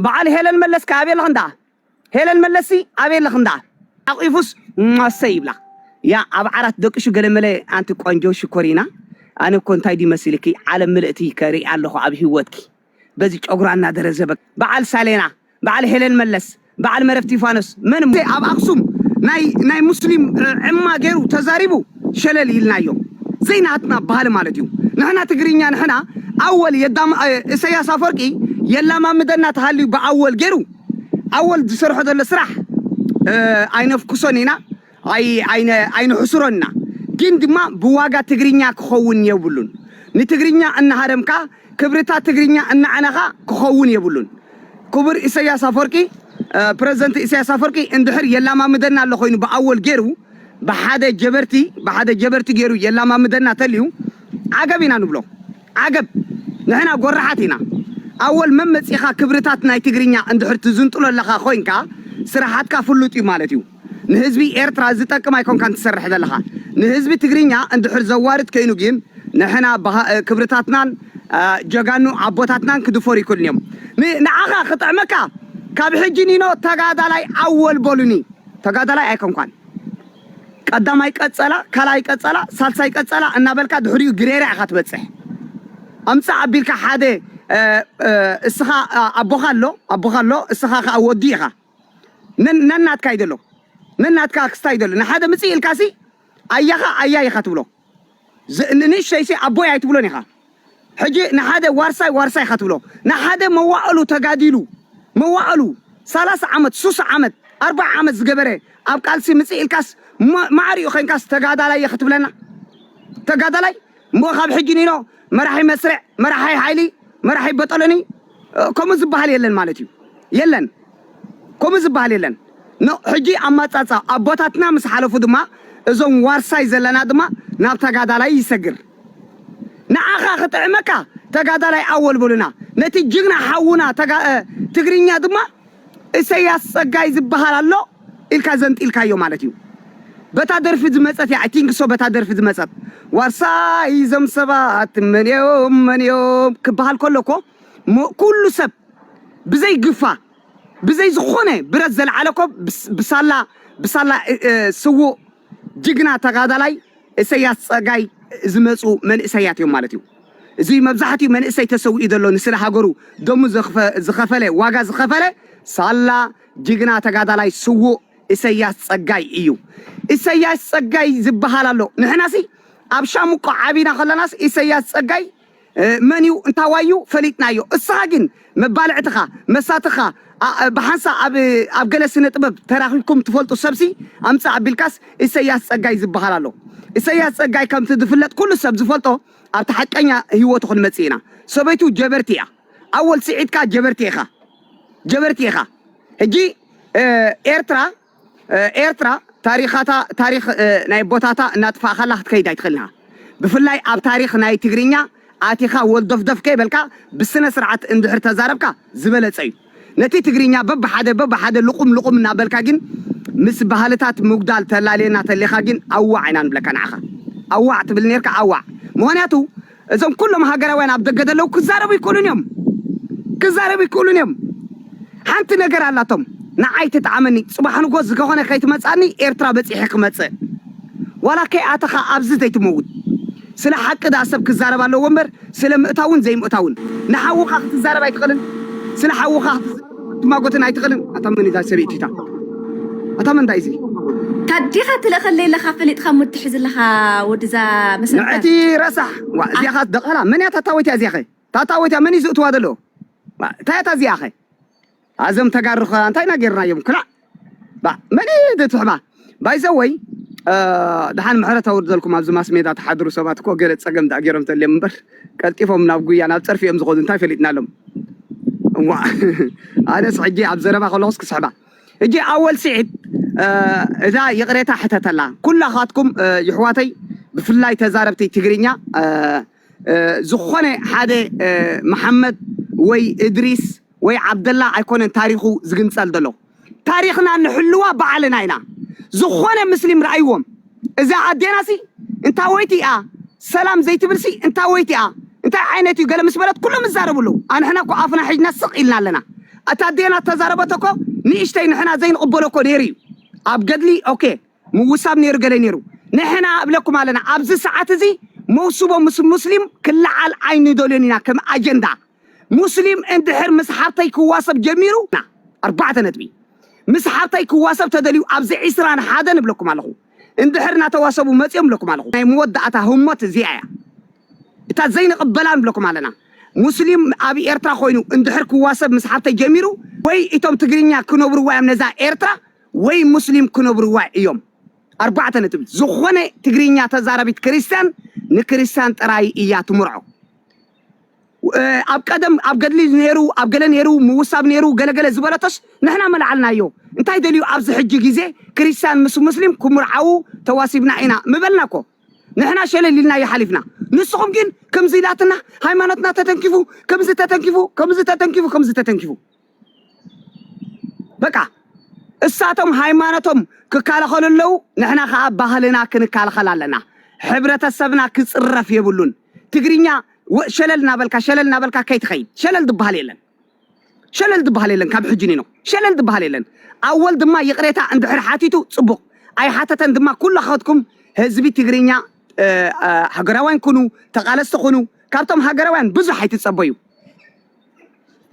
በዓል ሄለን መለስ ከ ኣበይ ኣለኺ እንዳ ሄለን መለስ ሲ ኣበይ ኣለኺ እንዳ ሓቂፉስ እሰይ ይብላ ያ ኣብ ዓራት ደቅሹ ገለመለ ኣንቲ ቆንጆ ሽኮሪና ኣነ እኮ እንታይ ድዩ መሲልኪ ዓለም ምልእቲ ከርኢ ኣለኹ ኣብ ሂወትኪ በዚ ጨጉራ እናደረዘበ በዓል ሳሌና በዓል ሄለን መለስ በዓል መረብ ቲፋኖስ መን ኣብ ኣክሱም ናይ ናይ ሙስሊም ዕማ ገይሩ ተዛሪቡ ሸለል ኢልናዮ ዘይናህትና ባህሊ ማለት እዩ ንሕና ትግርኛ ንሕና ኣወል የዳም እሰያስ ኣፎርቂ የላማምደና ተሃልዩ ብኣወል ገይሩ ኣወል ዝሰርሖ ዘሎ ስራሕ ኣይነፍኩሶን ኢና ኣይንሕስሮን ኢና ግን ድማ ብዋጋ ትግርኛ ክኸውን የብሉን ንትግርኛ እናሃረምካ ክብርታት ትግርኛ እናዕነኻ ክኸውን የብሉን ኩቡር ኢሰያስ ኣፎርቂ ፕረዝደንት ኢሰያስ ኣፎርቂ እንድሕር የላማምደና ኣሎ ኮይኑ ብኣወል ጌሩ ብሓደ ጀበርቲ ብሓደ ጀበርቲ ጌሩ የላማምደና ተልዩ ዓገብ ኢና ንብሎ ዓገብ ንሕና ጎራሓት ኢና ኣወል መመጺኻ ክብርታት ናይ ትግርኛ እንድሕር ትዝንጥሎ ኣለኻ ኮይንካ ስራሓትካ ፍሉጥ እዩ ማለት እዩ ንህዝቢ ኤርትራ ዝጠቅም ኣይኮንካን ትሰርሕ ዘለኻ ንህዝቢ ትግርኛ እንድሕር ዘዋርድ ከይኑ ጊን ንሕና ባህ ክብርታትናን ጀጋኑ ኣቦታትናን ክድፈሩ ይክእሉን እዮም ን ንዓኻ ክጥዕመካ ካብ ሕጂ ኒኖ ተጋዳላይ ኣወል በሉኒ ተጋዳላይ ኣይኮንኳን ቀዳማይ ቀጸላ ካልኣይ ቀጸላ ሳልሳይ ቀጸላ እናበልካ ድሕሪኡ ግሬራ ኢኻ ትበጽሕ ኣምጽእ ኣቢልካ ሓደ እስኻ ኣቦኻ ኣሎ ኣቦኻ ኣሎ እስኻ ከኣ ወዲ ኢኻ ነናትካ እዩ ዘሎ ነናትካ ኣክስታ እዩ ዘሎ ንሓደ ምፅእ ኢልካሲ ኣያኻ ኣያይ ኢኻ ትብሎ ንንእሽተይሲ ኣቦይ ኣይትብሎን ኢኻ ሕጂ ንሓደ ዋርሳይ ዋርሳይ ኢኻ ትብሎ ንሓደ መዋእሉ ተጋዲሉ መዋእሉ ሰላሳ ዓመት ሱሳ ዓመት ኣርባዓ ዓመት ዝገበረ ኣብ ቃልሲ ምፅእ ኢልካስ ማዕሪኡ ኮይንካስ ተጋዳላይ እየ ክትብለና ተጋዳላይ እሞ ካብ ሕጂ ኒኖ መራሒ መስርዕ፣ መራሒ ሓይሊ፣ መራሒ በጦሎኒ ከምኡ ዝበሃል የለን ማለት እዩ። የለን ከምኡ ዝበሃል የለን። ን ሕጂ ኣማጻጻ ኣቦታትና ምስ ሓለፉ ድማ እዞም ዋርሳይ ዘለና ድማ ናብ ተጋዳላይ ይሰግር። ንዓኻ ክጥዕመካ ተጋዳላይ ኣወል በሉና፣ ነቲ ጅግና ሓውና ትግርኛ ድማ እሰያስ ጸጋይ ዝብሃል ኣሎ ኢልካ ዘንጢልካዮ ማለት እዩ በታ ደርፊ ዝመጸት እያ ኣይ ቲንክ ሶ በታ ደርፊ ዝመጸት ዋርሳይ እዞም ሰባት መን እዮም መን እዮም ክብሃል ከሎ እኮ ሞ- ኩሉ ሰብ ብዘይ ግፋ ብዘይ ዝኾነ ብረት ዘልዓለ እኮ ብስ- ብሳላ ብሳላ እ- እ- ስዉእ ጅግና ተጋዳላይ እሰያስ ጸጋይ ዝመጹ መንእሰያት እዮም ማለት እዩ። እዚ መብዛሕትኡ መንእሰይ ተሰዊኡ ዘሎ ንስለ ሃገሩ ደሙ ዝኸፈለ ዋጋ ዝኸፈለ ሳላ ጅግና ተጋዳላይ ስዉእ እሰያስ ጸጋይ እዩ። እሰያስ ጸጋይ ዝበሃል ኣሎ ንሕናሲ ኣብ ሻምቆ ዓቢና ከለናስ እሰያስ ጸጋይ መን እዩ እንታዋይ እዩ ፈሊጥናዮ እስኻ ግን መባልዕትኻ መሳትኻ ብሓንሳ ኣብ ኣብ ገለ ስነ ጥበብ ተራኺብኩም ትፈልጡ ሰብሲ ኣምጽእ ኣቢልካስ ኢሰያስ ጸጋይ ዝበሃል ኣሎ ኢሰያስ ጸጋይ ከምቲ ዝፍለጥ ኩሉ ሰብ ዝፈልጦ ኣብቲ ሓቀኛ ህይወቱ ክንመጽእ ኢና ሰበይቱ ጀበርቲ እያ ኣወል ስዒድካ ጀበርቲ ኢኻ ጀበርቲ ኢኻ ሕጂ ኤርትራ ኤርትራ ታሪኻታ ታሪኽ ናይ ኣቦታታ እናጥፋእካላ ክትከይድ ኣይትኽእልን ኢኻ። ብፍላይ ኣብ ታሪኽ ናይ ትግርኛ ኣቲኻ ወልዶፍዶፍ ከይበልካ ብስነ ስርዓት እንድሕር ተዛረብካ ዝበለጸ እዩ። ነቲ ትግርኛ በብሓደ በብሓደ ልቑም ልቑም እናበልካ ግን ምስ ባህልታት ምጉዳል ተላልየና ተሊኻ ግን ኣዋዕ ኢና ንብለካ ንዓኻ። ኣዋዕ ትብል ኔርካ ኣዋዕ። ምኽንያቱ እዞም ኩሎም ሃገራውያን ኣብ ደገ ዘለዉ ክዛረቡ ይክእሉን እዮም ክዛረቡ ይክእሉን እዮም ሓንቲ ነገር ኣላቶም ንዓይ ትጥዓመኒ ጽባሕ ንጎ ዝገኾነ ከይትመጻኒ ኤርትራ በጺሐ ክመጽእ ዋላ ከይኣተኻ ኣብዚ ዘይትመውት ስለ ሓቂ ደኣ ሰብ ክዛረብ ኣለዎ እምበር ስለ ምእታውን ዘይምእታውን ንሓውኻ ክትዛረብ ኣይትኽእልን ስለ ሓውኻ ክትማጎተን ኣይትኽእልን ኣታ መን እዛ ሰበይቲ እታ ኣታ መን እንታይ እዚ ታዲኻ ትለኸለይ ኣለኻ ፈሊጥኻ እሞ ትሕዝ ኣለኻ ወድዛ መሰረት ንዕቲ ረሳሕ ዋ እዚኣ ኸ ደቓላ መን እያ ታታወት እያ እዚኣ ኸ ታታወት እያ መን እዩ ዝእትዋ ዘሎ እንታይ እያ እዚኣ ኸ ኣዞም ተጋሩ ኸ እንታይ ኢና ጌርናዮም ኩላዕ ባእ መን እዩ እቲ ትሕባ ባይ ዘ ወይ ድሓን ምሕረት ኣውርደልኩም ኣብዚ ማስ ሜዳ ትሓድሩ ሰባት እኮ ገለ ጸገም ድኣ ገይሮም ተልዮም እምበር ቀልጢፎም ናብ ጉያ ናብ ጸርፊ እዮም ዝኸዱ እንታይ ፈሊጥናሎም እዋ ኣነስ ሕጂ ኣብ ዘረባ ከለኹስ ክስሕባ ሕጂ ኣወል ስዒድ እዛ ይቕሬታ ሕተተላ ኩላኻትኩም ይሕዋተይ ብፍላይ ተዛረብቲ ትግርኛ ዝኾነ ሓደ መሓመድ ወይ እድሪስ ወይ ዓብደላ ኣይኮነን ታሪኹ ዝግንጸል ዘሎ። ታሪኽና ንሕልዋ ባዕልና ኢና። ዝኾነ ምስሊም ርኣይዎም እዛ ኣዴናሲ እንታወይቲ እያ ሰላም ዘይትብልሲ እንታወይቲ እያ እንታይ ዓይነት እዩ ገለ ምስ በለት ኩሎም ይዛረቡ ኣለዉ። ኣንሕና እኮ ኣፍና ሒጅና ስቕ ኢልና ኣለና። እታ ኣዴና እተዛረበቶ እኮ ንእሽተይ ንሕና ዘይንቕበሎ እኮ ነይሩ እዩ ኣብ ገድሊ ኦኬ ምውሳብ ነይሩ ገለ ነይሩ ንሕና እብለኩም ኣለና ኣብዚ ሰዓት እዚ መውስቦ ምስ ሙስሊም ክለዓል ኣይንደልዮን ኢና ከም ኣጀንዳ ሙስሊም እንድሕር ምስ ሓብተይ ክዋሰብ ጀሚሩ ኣርባዕተ ነጥቢ ምስ ሓብተይ ክዋሰብ ተደልዩ ኣብዚ ዕስራን ሓደን እብለኩም ኣለኹ እንድሕር እናተዋሰቡ መፅዮም እብለኩም ኣለኹ ናይ መወዳእታ ህሞት እዚኣ እያ እታ ዘይንቕበላን እብለኩም ኣለና ሙስሊም ኣብ ኤርትራ ኮይኑ እንድሕር ክዋሰብ ምስ ሓብተይ ጀሚሩ ወይ እቶም ትግርኛ ክነብርዋ እዮም ነዛ ኤርትራ ወይ ሙስሊም ክነብርዋ እዮም ኣርባዕተ ነጥቢ። ዝኾነ ትግርኛ ተዛራቢት ክርስትያን ንክርስትያን ጥራይ እያ ትምርዖ። ኣብ ቀደም ኣብ ገድሊ ነይሩ ኣብ ገለ ነይሩ ምውሳብ ነይሩ ገለ ገለ ዝበለቶስ ንሕና መላዓልናዮ እንታይ ደልዩ ኣብዚ ሕጂ ግዜ ክርስትያን ምስ ሙስሊም ክምርዓዉ ተዋሲብና ኢና ምበልና እኮ ንሕና ሸለል ኢልናዮ ሓሊፍና ንስኹም ግን ክምዚ ኢላትና ሃይማኖትና ተተንኪፉ ክምዚ ተተንኪፉ ክምዚ ተተንኪፉ ክምዚ ተተንኪፉ በቃ እሳቶም ሃይማኖቶም ክካለኸሉ ኣለው፣ ንሕና ከዓ ባህልና ክንካልኸል ኣለና። ሕብረተሰብና ክፅረፍ የብሉን። ትግርኛ ሸለል እናበልካ ሸለል እናበልካ ከይትኸይድ ሸለል ዝበሃል የለን። ሸለል ዝበሃል የለን። ካብ ሕጂ ኒኖ ሸለል ዝበሃል የለን። ኣወል ድማ ይቕሬታ እንድሕር ሓቲቱ ፅቡቕ፣ ኣይሓተተን ድማ ኩላኻትኩም ህዝቢ ትግርኛ ሃገራውያን ኩኑ፣ ተቓለስቲ ኩኑ። ካብቶም ሃገራውያን ብዙሕ ኣይትፀበዩ።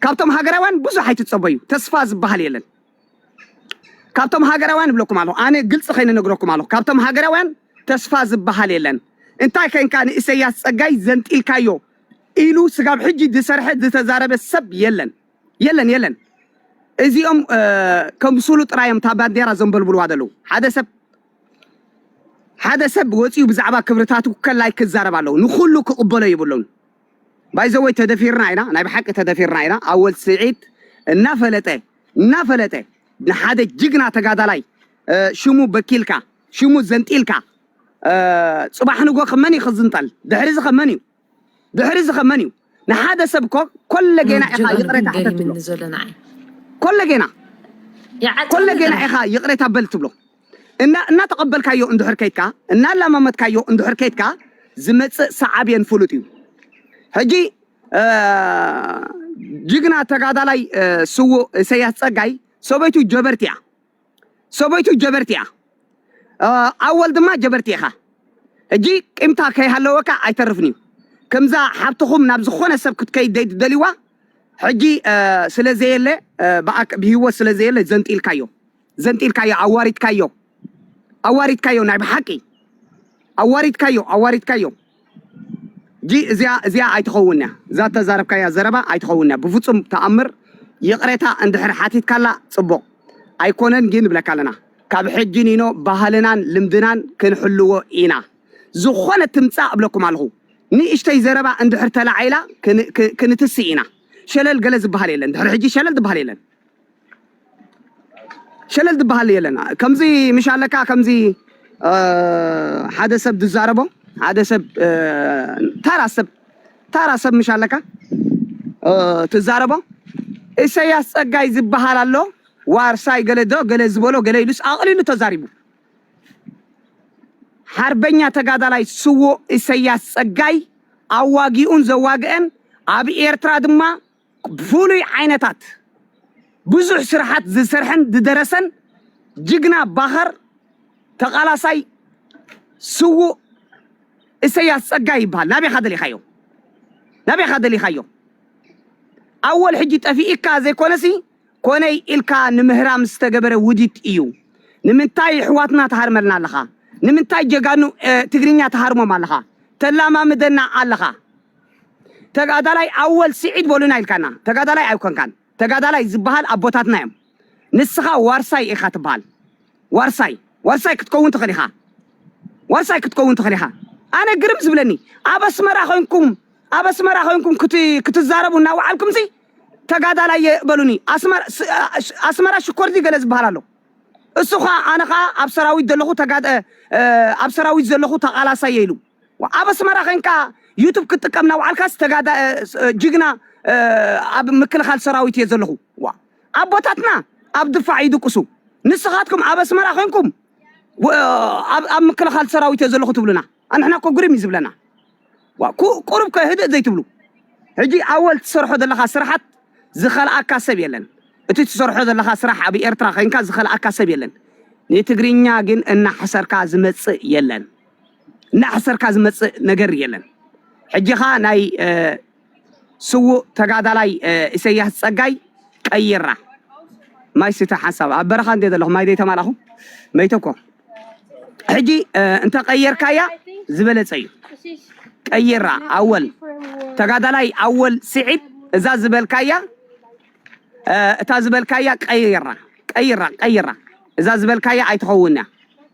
ካብቶም ሃገራውያን ብዙሕ ኣይትጸበዩ ተስፋ ዝበሃል የለን ካብቶም ሃገራውያን እብለኩም ኣለኹ ኣነ ግልፂ ከይነ ነግረኩም ኣለኹ ካብቶም ሃገራውያን ተስፋ ዝበሃል የለን እንታይ ከንካ ንእሰያስ ጸጋይ ዘንጢልካዮ ኢሉ ስጋብ ሕጂ ዝሰርሐ ዝተዛረበ ሰብ የለን የለን የለን እዚኦም ከም ስሉ ጥራዮም እታ ባንዴራ ዘንበልብልዋ ዘለዉ ሓደ ሰብ ሓደ ሰብ ወፂኡ ብዛዕባ ክብርታቱ ከላይ ክዛረብ ኣለዎ ንኩሉ ክቕበሎ ይብሉን ባይዘወይ ተደፊርና ኢና ናይ ብሓቂ ተደፊርና ኢና ኣወል ስዒድ እናፈለጠ እናፈለጠ ንሓደ ጅግና ተጋዳላይ ሽሙ በኪልካ ሽሙ ዘንጢልካ ጽባሕ ንጎ ከመን እዩ ክዝንጠል ድሕሪ እዚ ከመን እዩ ድሕሪ እዚ ከመን እዩ ንሓደ ሰብ እኮ ኮለ ጌና ኢኻ ይቕሬታ ሕተትብሎ ኮለ ጌና ኮለ ጌና ኢኻ ይቕሬታ በል ትብሎ እና እናተቐበልካዮ እንድሕር ከይድካ፣ እናላማመድካዮ እንድሕር ከይድካ ዝመጽእ ሳዓቤን ፍሉጥ እዩ። ሕጂ ጅግና ተጋዳላይ ስዉእ እሰያስ ጸጋይ ሰበይቱ ጀበርቲ እያ። ሰበይቱ ጀበርቲ እያ። ኣወል ድማ ጀበርቲ ኢኻ። ሕጂ ቂምታ ከይሃለወካ ኣይተርፍን እዩ። ከምዛ ሓብትኹም ናብ ዝኾነ ሰብ ክትከይድ ዘይትደልይዋ ሕጂ ስለ ዘየለ ብሂወት ስለ ዘየለ ዘንጢልካዮ ዘንጢልካዮ ኣዋሪድካዮ ኣዋሪድካዮ ናይ ብሓቂ ኣዋሪድካዮ ኣዋሪድካዮ ጂ እዚኣ እዚኣ ኣይትኸውን እያ እዛ ተዛረብካያ ዘረባ ኣይትኸውን እያ ብፍጹም ተኣምር ይቕሬታ እንድሕር ሓቲትካላ ጽቡቕ ኣይኮነን ግን ንብለካ ኣለና ካብ ሕጂ ኒኖ ባህልናን ልምድናን ክንሕልዎ ኢና ዝኾነ ትምጻእ እብለኩም ኣለኹ ንእሽተይ ዘረባ እንድሕር ተላዒላ ክንትስእ ኢና ሸለል ገለ ዝበሃል የለን ድሕሪ ሕጂ ሸለል ዝበሃል የለን ሸለል ዝበሃል የለን ከምዚ ምሽ ኣለካ ከምዚ እ፣ ሓደ ሰብ ዝዛረቦ ሓደ ሰብ እ፣ ታራ ሰብ ታራ ሰብ ምሽ ኣለካ እ፣ ትዛረቦ ኢሰያስ ጸጋይ ዝበሃል ኣሎ ዋርሳይ ገለ ዶ ገለ ዝበሎ ገለ ኢሉስ ኣቕሊሉ ተዛሪቡ ሓርበኛ ተጋዳላይ ስዉእ ኢሰያስ ጸጋይ ኣዋጊኡን ዘዋግአን ኣብ ኤርትራ ድማ ፍሉይ ዓይነታት ብዙሕ ስርሓት ዝሰርሐን ዝደረሰን ጅግና ባኸር ተቓላሳይ ስዉእ እሰያስ ጸጋይ ይበሃል። ናበይካ ደሊኻዮ? ናበይካ ደሊኻዮ? ኣወል ሕጂ ጠፊኢካ ዘይኮነሲ ኮነይ ኢልካ ንምህራም ዝተገበረ ውዲት እዩ። ንምንታይ ኣሕዋትና ትሃርመልና ኣለኻ? ንምንታይ ጀጋኑ ትግርኛ ትሃርሞም ኣለኻ? ተላማምደና ኣለኻ? ተጋዳላይ ኣወል ስዒድ በሉና ኢልካና ተጋዳላይ ኣይኮንካን ተጋዳላይ ዝበሃል ኣቦታትና እዮም ንስኻ ዋርሳይ ኢኻ ትበሃል ዋርሳይ ዋርሳይ ክትከውን ትኽእል ኢኻ ዋርሳይ ክትከውን ትኽእል ኢኻ ኣነ ግርም ዝብለኒ ኣብ ኣስመራ ኮንኩም ኣብ ኣስመራ ኮንኩም ክትዛረቡ እናወዓልኩም ሲ ተጋዳላይ በሉኒ ኣስመራ ሽኮርቲ ገለ ዝበሃል ኣሎ እሱ ከዓ ኣነ ከዓ ኣብ ሰራዊት ዘለኹ ኣብ ሰራዊት ዘለኹ ተቃላሳየ ኢሉ ኣብ ኣስመራ ኮንካ ዩቱብ ክትጥቀም ናውዓልካስ ተጋዳ ጅግና ኣብ ምክልኻል ሰራዊት እየ ዘለኹ ዋ ኣቦታትና ኣብ ድፋዕ ይድቅሱ ንስኻትኩም ኣብ ኣስመራ ኮንኩም ኣብ ምክልኻል ሰራዊት እየ ዘለኹ ትብሉና ኣንሕና እኮ ግርም እዩ ዝብለና ዋ ቁሩብ ከ ህድእ ዘይትብሉ ሕጂ ኣወል ትሰርሖ ዘለኻ ስራሓት ዝኸልኣካ ሰብ የለን እቲ ትሰርሖ ዘለኻ ስራሕ ኣብ ኤርትራ ኮንካ ዝኸልኣካ ሰብ የለን ንትግርኛ ግን እናሕሰርካ ዝመጽእ የለን እናሕሰርካ ዝመፅእ ነገር የለን። ሕጂ ኸኣ ናይ ስዉእ ተጋዳላይ ኢሰያስ ጸጋይ ቀይራ ማይ ስተ ሓንሳብ ኣብ በረኻ እንድየ ዘለኹ ማይ ዘይተማላኹ መይተ እኮ ሕጂ እንተቀየርካያ ዝበለጸ እዩ ቀይራ ኣወል ተጋዳላይ ኣወል ስዒድ እዛ ዝበልካያ እታ ዝበልካያ ቀይራ ቀይራ ቀይራ እዛ ዝበልካያ ኣይትኸውንያ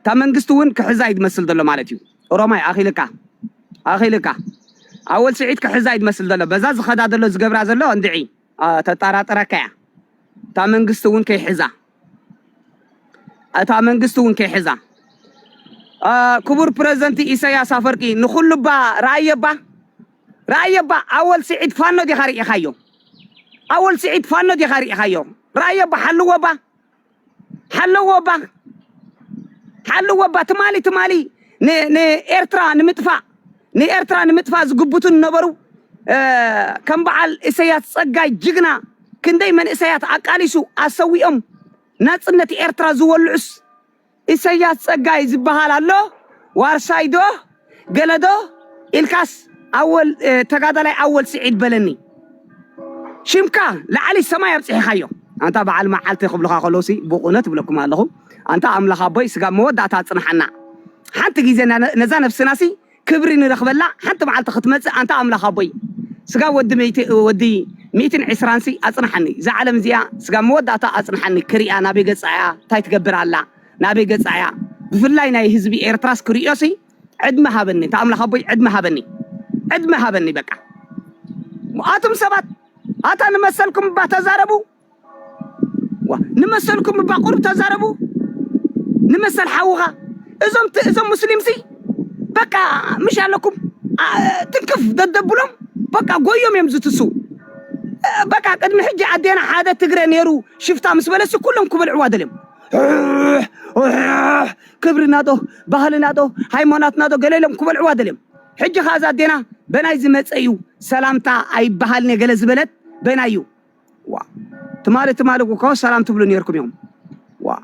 እታ መንግስቲ ውን ክሕዛ እዩ ዝመስል ዘሎ ማለት እዩ ኦሮማይ ኣኺልካ ኣኺልካ ኣወል ስዒድ ክሕዛ እዩ ዝመስል ዘሎ በዛ ዝኸዳ ዘሎ ዝገብራ ዘሎ እንድዒ ተጣራጥረካ እያ እታ መንግስቲ ውን ከይሕዛ እታ መንግስቲ ውን ከይሕዛ ክቡር ፕረዚደንት ኢሳያስ ኣፈርቂ ንኹሉ እባ ረኣየባ ረኣየባ ኣወል ስዒድ ፋኖ ዲኻ ርኢኻዮ ኣወል ስዒድ ፋኖ ዲኻ ርኢኻዮ ረኣየባ ሓልወባ ሓለዎ ባኽ ሓለዎ እባ ትማሊ ትማሊ ንኤርትራ ንምጥፋእ ንኤርትራ ንምጥፋእ ዝግብቱ ዝነበሩ ከም በዓል ኢሰያስ ጸጋይ ጅግና ክንደይ መንእሰያት ኣቃሊሱ ኣሰዊኦም ናጽነት ኤርትራ ዝወልዑስ ኢሰያስ ጸጋይ ዝበሃል ኣሎ ዋርሳይዶ ገለ ዶ ኢልካስ ኣወል ተጋዳላይ ኣወል ስዒድ በለኒ ሽምካ ላዕሊ ሰማይ ኣብጽሒኻዮ ኣንታ በዓል መዓልቲ ክብሉኻ ከለውሲ ብቑነ ትብለኩም ኣለኹ ኣንታ ኣምላኽ ኣቦይ ስጋብ መወዳእታ ኣጽንሓና ሓንቲ ግዜ ነዛ ነፍስናሲ ክብሪ ንረኽበላ ሓንቲ መዓልቲ ክትመጽእ ኣንታ ኣምላኽ ኣቦይ ስጋብ ወዲ ሚእቲ ወዲ ሚእትን ዕስራንሲ ኣጽንሓኒ እዛ ዓለም እዚኣ ስጋብ መወዳእታ ኣጽንሓኒ ክሪኣ ናበይ ገጻ እያ እንታይ ትገብር ኣላ ናበይ ገጻ እያ ብፍላይ ናይ ህዝቢ ኤርትራስ ክርእዮሲ ዕድመ ሃበኒ እታ ኣምላኽ ኣቦይ ዕድመ ሃበኒ ዕድመ ሃበኒ በቃ ኣቱም ሰባት ኣታ ንመሰልኩም እባ ተዛረቡ ዋ ንመሰልኩም እባ ቁርብ ተዛረቡ ንመሰል ሓውኻ እዞም እዞም ሙስሊምሲ በቃ ምሽ ኣለኩም ትንክፍ ደደብሎም በቃ ጎዮም እዮም ዝትሱ በቃ ቅድሚ ሕጂ ኣዴና ሓደ ትግረ ነይሩ ሽፍታ ምስ በለሲ ኩሎም ክበልዕዋ ደልዮም ክብሪ ናቶ ባህሊ ናቶ ሃይማኖት ናቶ ገለ ኢሎም ክበልዕዋ ደልዮም ሕጂ ከዓ እዛ ኣዴና በናይ ዝመፀ እዩ ሰላምታ ኣይበሃልን እየ ገለ ዝበለት በናይ እዩ ዋ ትማሊ ትማሊ እኮ ሰላም ትብሉ ነርኩም እዮም ዋ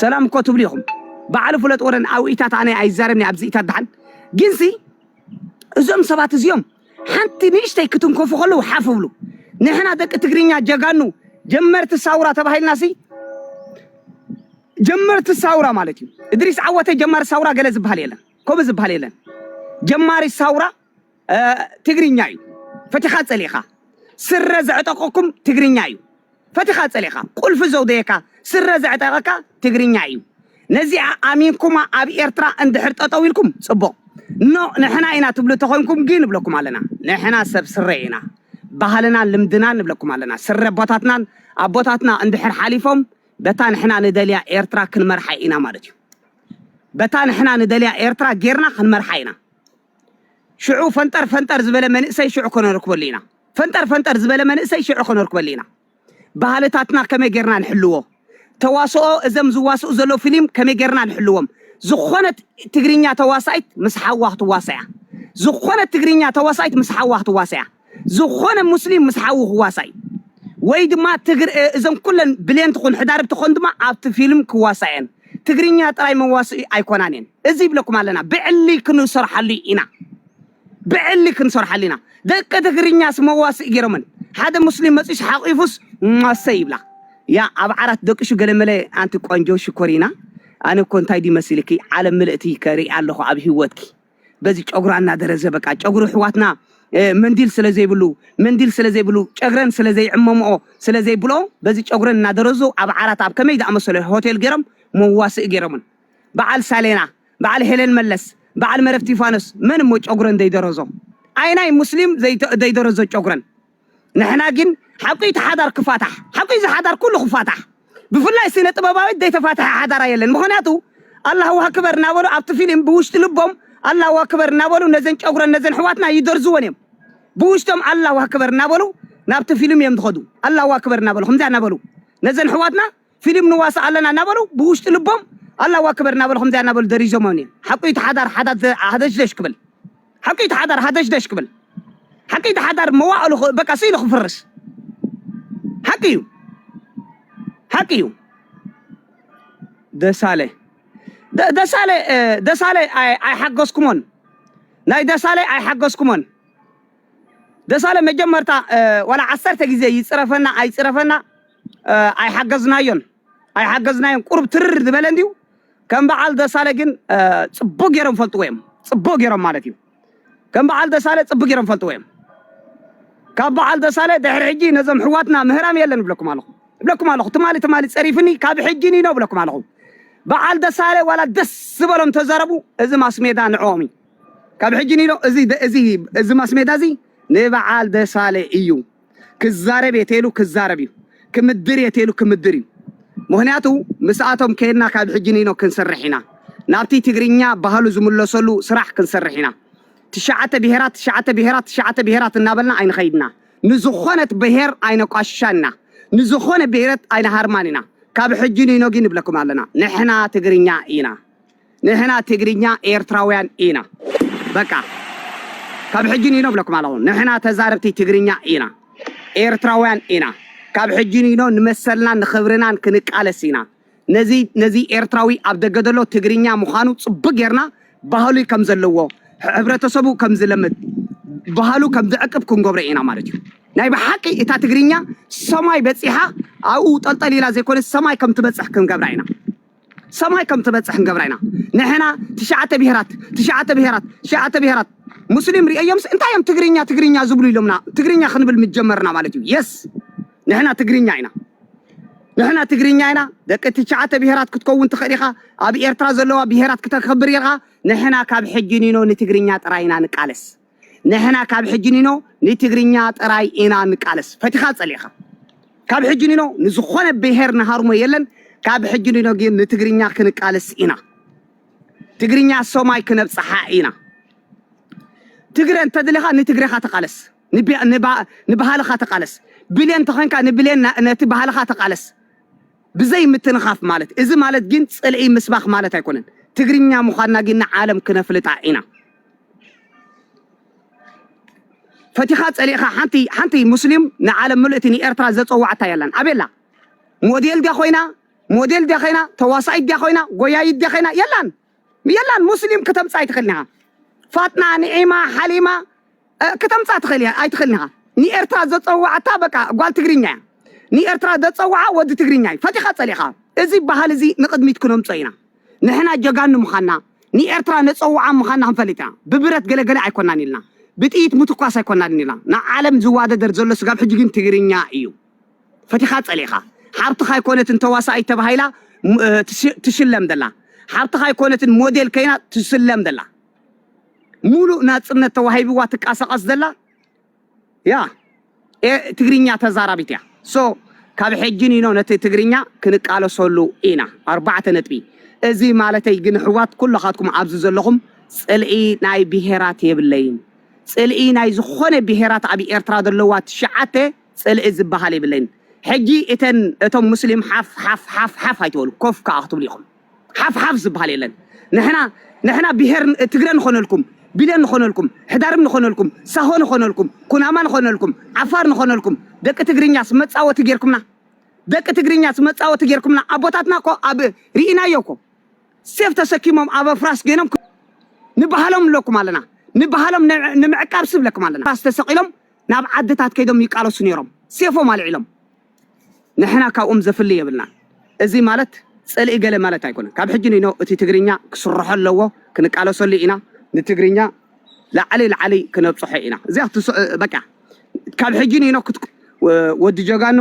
ሰላም እኮ ትብሉ ኢኹም በዓል ፍለጥ ወረን ኣብኢታት ኣነ ኣይዛረብኒ ኣብዚ ኢታት ደሓን ግንሲ እዞም ሰባት እዚኦም ሓንቲ ንእሽተይ ክትንከፉ ከለዉ ሓፍ እብሉ። ንሕና ደቂ ትግርኛ ጀጋኑ ጀመርቲ ሳውራ ተባሂልናሲ ጀመርቲ ሳውራ ማለት እዩ። እድሪስ ዓወተይ ጀማሪ ሳውራ ገለ ዝበሃል የለን። ከምኡ ዝበሃል የለን። ጀማሪ ሳውራ ትግርኛ እዩ። ፈቲኻ ጸሊእኻ ስረ ዘዕጠቀኩም ትግርኛ እዩ። ፈቲኻ ጸሊእኻ ቁልፊ ዘውደየካ ስረ ዘዕጠቀካ ትግርኛ ኢዩ ነዚኣ ኣሚንኩማ ኣብ ኤርትራ እንድሕር ጠጠው ኢልኩም ጽቡቅ ን ንሕና ኢና ትብሉ ተኮንኩም ግን ንብለኩም ኣለና ንሕና ሰብ ስረ ኢና ባህልናን ልምድናን ንብለኩም ኣለና ስረ ኣቦታትናን ኣቦታትና እንድሕር ሓሊፎም በታ ንሕና ንደልያ ኤርትራ ክንመርሓ ኢና ማለት ኢዩ በታ ንሕና ንደልያ ኤርትራ ጌርና ክንመርሓ ኢና ሽዑ ፈንጠር ፈንጠር ዝበለ መንእሰይ ሽዑ ከነርክበሉ ኢና ፈንጠር ፈንጠር ዝበለ መንእሰይ ሽዑ ከነርክበሉ ኢና ባህልታትና ከመይ ጌርና ንሕልዎ ተዋስኦ እዘም ዝዋስኡ ዘሎ ፊልም ከመይ ጌርና ንሕልዎም ዝኾነት ትግርኛ ተዋሳኢት ምስ ሓዋ ክትዋሳያ ዝኾነት ትግርኛ ተዋሳኢት ምስ ሓዋ ክትዋሳያ ዝኾነ ሙስሊም ምስ ሓዉ ክዋሳይ ወይ ድማ ትግር እ፣ እዘን ኩለን ብሌን ትኹን ሕዳርብ ትኾን ድማ ኣብቲ ፊልም ክዋሳእ እየን ትግርኛ ጥራይ መዋስኢ ኣይኮናን እየን እዚ ይብለኩም ኣለና ብዕሊ ክንሰርሓሉ ኢና ብዕሊ ክንሰርሓሉ ኢና ደቂ ትግርኛስ መዋስኢ ገይሮመን ሓደ ሙስሊም መጺስ ሓቂፉስ ማሰ ይብላ ያ ኣብ ዓራት ደቅሹ ገለመለ ኣንቲ ቆንጆ ሽኮሪና ኣነ እኮ እንታይ ድዩ መሲልኪ ዓለም ምልእቲ ከርኢ ኣለኹ ኣብ ሂወትኪ በዚ ጨጉራ እናደረዘ በቃ ጨጉሪ ኣሕዋትና መንዲል ስለ ዘይብሉ መንዲል ስለ ዘይብሉ ጨግረን ስለ ዘይዕመምኦ ስለ ዘይብልኦ በዚ ጨጉረን እናደረዙ ኣብ ዓራት ኣብ ከመይ ዝኣመሰለ ሆቴል ገይሮም መዋስኢ ገይሮምን በዓል ሳሌና በዓል ሄለን መለስ በዓል መረብ ቲፋኖስ መን እሞ ጨጉረን ዘይደረዞ ኣይናይ ሙስሊም ዘይደረዞ ጨጉረን ንሕና ግን ሓቁዩ እቲ ሓዳር ክፋታሕ ሓቁዩ እዚ ሓዳር ኩሉ ክፋታሕ ብፍላይ ስነ ጥበባዊት ዘይተፋተሐ ሓዳራ የለን ምክንያቱ ኣላሁ ኣክበር እናበሉ ኣብቲ ፊሊም ብውሽጢ ልቦም ኣላሁ ኣክበር እናበሉ ነዘን ጨጉረን ነዘን ኣሕዋትና ይደርዝወን እዮም ብውሽጦም ኣላሁ ኣክበር እናበሉ ናብቲ ፊልም እዮም ዝኸዱ ኣላሁ ኣክበር እናበሉ ከምዚኣ እናበሉ ነዘን ኣሕዋትና ፊሊም ንዋሳእ ኣለና እናበሉ ብውሽጢ ልቦም ኣላሁ ኣክበር እናበሉ ከምዚኣ እናበሉ ደሪዞሞም እዮም ሓቁ እዩ እቲ ሓዳር ሓዳር ሃደሽደሽ ክብል ሓቁ እዩ እቲ ሓዳር ሃደሽደሽ ክብል ሓቂ እዩ እቲ ሓዳር መዋእሉ ክ- በቃ ስኢሉ ክፍርስ ሓቂ እዩ ሓቂ እዩ ደሳለ ደ- ደሳለ እ፣ ደሳለ ኣይ- ኣይሓገዝኩሞን ናይ ደሳለ ኣይሓገዝኩሞን ደሳለ መጀመርታ ዋላ ዓሰርተ ግዜ ይጽረፈና ኣይጽረፈና ኣይሓገዝናዮን ኣይሓገዝናዮን ቁሩብ ትርር ዝበለ እንድዩ ከም በዓል ደሳለ ግን ጽቡቅ ገይሮም ፈልጥዎ እዮም ጽቡቅ ገይሮም ማለት እዩ ከም በዓል ደሳለ ጽቡቅ ገይሮም ፈልጥዎ እዮም ካብ በዓል ደሳለ ድሕሪ ሕጂ ነዞም ሕዋትና ምህራም የለን እብለኩም ኣለኹ እብለኩም ኣለኹ ትማሊ ትማሊ ጸሪፍኒ ካብ ሕጂ ኒኖ እብለኩም ኣለኹ በዓል ደሳለ ዋላ ደስ ዝበሎም ተዛረቡ እዚ ማስሜዳ ንዕኦም እዩ ካብ ሕጂ ኒሎ እዚ እዚ እዚ ማስሜዳ እዚ ንባዓል ደሳለ ኢዩ ክዛረብ እየ ተሉ ክዛረብ እዩ ክምድር እየ ተሉ ክምድር እዩ ምክንያቱ ምስኣቶም ከይድና ካብ ሕጂ ኒኖ ክንስርሕ ኢና ናብቲ ትግርኛ ባህሉ ዝምለሰሉ ስራሕ ክንስርሕ ኢና ትሽዓተ ብሄራት ትሽዓተ ብሄራት ትሽዓተ ብሄራት እናበልና ኣይንኸይድና ንዝኾነት ብሄር ኣይነቋሽሻን ኢና ንዝኾነ ብሄረት ኣይንሃርማን ኢና ካብ ሕጂ ኒኖ ግን ንብለኩም ኣለና ንሕና ትግርኛ ኢና ንሕና ትግርኛ ኤርትራውያን ኢና በቃ ካብ ሕጂ ንኢኖ እብለኩም ኣለኹ ንሕና ተዛረብቲ ትግርኛ ኢና ኤርትራውያን ኢና ካብ ሕጂ ንኢኖ ንመሰልናን ንኽብርናን ክንቃለስ ኢና ነዚ ነዚ ኤርትራዊ ኣብ ደገ ዘሎ ትግርኛ ምዃኑ ጽቡቅ ጌርና ባህሉ ከም ዘለዎ ሕብረተሰቡ ከም ዝለምድ ባህሉ ከም ዝዕቅብ ክንገብሮ ኢና ማለት እዩ ናይ ብሓቂ እታ ትግርኛ ሰማይ በፂሓ ኣብኡ ጠልጠል ኢላ ዘይኮነስ ሰማይ ከም ትበፅሕ ክንገብራ ኢና ሰማይ ከም ትበጽሕ ንገብራ ኢና ንሕና ትሽዓተ ብሄራት ትሽዓተ ብሄራት ትሽዓተ ብሄራት ሙስሊም ርእዮምስ እንታይ እዮም ትግርኛ ትግርኛ ዝብሉ ኢሎምና ትግርኛ ክንብል ምጀመርና ማለት እዩ የስ ንሕና ትግርኛ ኢና ንሕና ትግርኛ ኢና ደቂ ትሽዓተ ብሄራት ክትከውን ትኽእል ኢኻ ኣብ ኤርትራ ዘለዋ ብሄራት ክተከብር ኢኻ ንሕና ካብ ሕጂ ኒኖ ንትግርኛ ጥራይ ኢና ንቃለስ ንሕና ካብ ሕጂ ኒኖ ንትግርኛ ጥራይ ኢና ንቃለስ ፈቲኻ ጸሊእኻ ካብ ሕጂ ኒኖ ንዝኾነ ብሄር ንሃርሞ የለን ካብ ሕጂ ኒኖ ግን ንትግርኛ ክንቃለስ ኢና ትግርኛ ሰማይ ክነብጽሓ ኢና ትግረ እንተድልኻ ንትግረኻ ተቃለስ ንባህልኻ ተቃለስ ብሌን ተኾንካ ንብሌን ነቲ ባህልኻ ተቃለስ ብዘይ ምትንኻፍ ማለት እዚ ማለት ግን ጽልኢ ምስባኽ ማለት ኣይኮነን ትግርኛ ምዃንና ግን ንዓለም ክነፍልጣ ኢና ፈቲኻ ጸሊእኻ ሓንቲ ሓንቲ ሙስሊም ንዓለም ምልእቲ ንኤርትራ ዘጸዋዕታ የላን ኣበላ ሞዴል ድያ ኮይና ሞዴል ድያ ኮይና ተዋሳኢት ድያ ኮይና ጎያይት ድያ ኮይና የላን የላን ሙስሊም ከተምጻ ኣይትኽእልን ኢኻ ፋጥና ንዒማ ሓሊማ ከተምጻ ትኽእል ኣይትኽእልን ኢኻ ንኤርትራ ዘጸዋዕታ በቃ ጓል ትግርኛ እያ ንኤርትራ ዘጸዋዓ ወዲ ትግርኛ እዩ ፈቲኻ ጸሊእኻ እዚ ባህል እዚ ንቕድሚት ክነምጾ ኢና ንሕና ጀጋኑ ምኻና ንኤርትራ ነጸውዓ ምኻና ክንፈልጥ ኢና ብብረት ገለ ገለ ኣይኮናን ኢልና ብጥይት ምትኳስ ኣይኮናን ኢልና ንዓለም ዝዋደደር ዘሎ ስጋብ ሕጂ ግን ትግርኛ ኢዩ ፈቲኻ ጸሊእኻ ሓብትኻ ኣይኮነትን ተዋሳኢት ተባሂላ ትሽለም ዘላ ሓብትኻ ኣይኮነትን ሞዴል ከይና ትስለም ዘላ ሙሉእ ናጽነት ተዋሂብዋ ትቃሳቀስ ዘላ ያ ኤ ትግርኛ ተዛራቢት እያ so ካብ ሕጂ ኒኖ ነቲ ትግርኛ ክንቃለሰሉ ኢና ኣርባዕተ ነጥቢ እዚ ማለተይ ግን ኣሕዋት ኩሎኻትኩም ኣብዚ ዘለኹም ጽልኢ ናይ ብሄራት የብለይን ጽልኢ ናይ ዝኾነ ብሄራት ኣብ ኤርትራ ዘለዋ ትሽዓተ ጽልኢ ዝበሃል የብለይን ሕጂ እተን እቶም ሙስሊም ሓፍ ሓፍ ሓፍ ሓፍ ኣይትበሉ ኮፍ ከኣ ክትብሉ ኢኹም ሓፍ ሓፍ ዝብሃል የለን ንሕና ንሕና ብሄር ትግረ ንኾነልኩም ቢለ ንኾነልኩም ሕዳርም ንኾነልኩም ሳሆ ንኾነልኩም ኩናማ ንኾነልኩም ዓፋር ንኾነልኩም ደቂ ትግርኛስ መጻወቲ ጌርኩምና ደቂ ትግርኛስ መጻወቲ ጌርኩምና ኣቦታትና እኮ ኣብ ርኢናዮ እኮ ሴፍ ተሰኪሞም ኣብ ኣፍራስ ገይኖም ንባህሎም ኣለኩም ኣለና ንባህሎም ንምዕቃብ ስብለኩም ኣለና ራስ ተሰቒሎም ናብ ዓድታት ከይዶም ይቃለሱ ነይሮም ሴፎም ኣልዒሎም ንሕና ካብኦም ዘፍሊ የብልናን እዚ ማለት ጽልኢ ገለ ማለት ኣይኮነን ካብ ሕጂ ንይኖ እቲ ትግርኛ ክስርሖ ኣለዎ ክንቃለሰሉ ኢና ንትግርኛ ላዕሊ ላዕሊ ክነብጽሖ ኢና እዚኣ ክትስ በቃ ካብ ሕጂ ንይኖ ክት ወዲ ጀጋኑ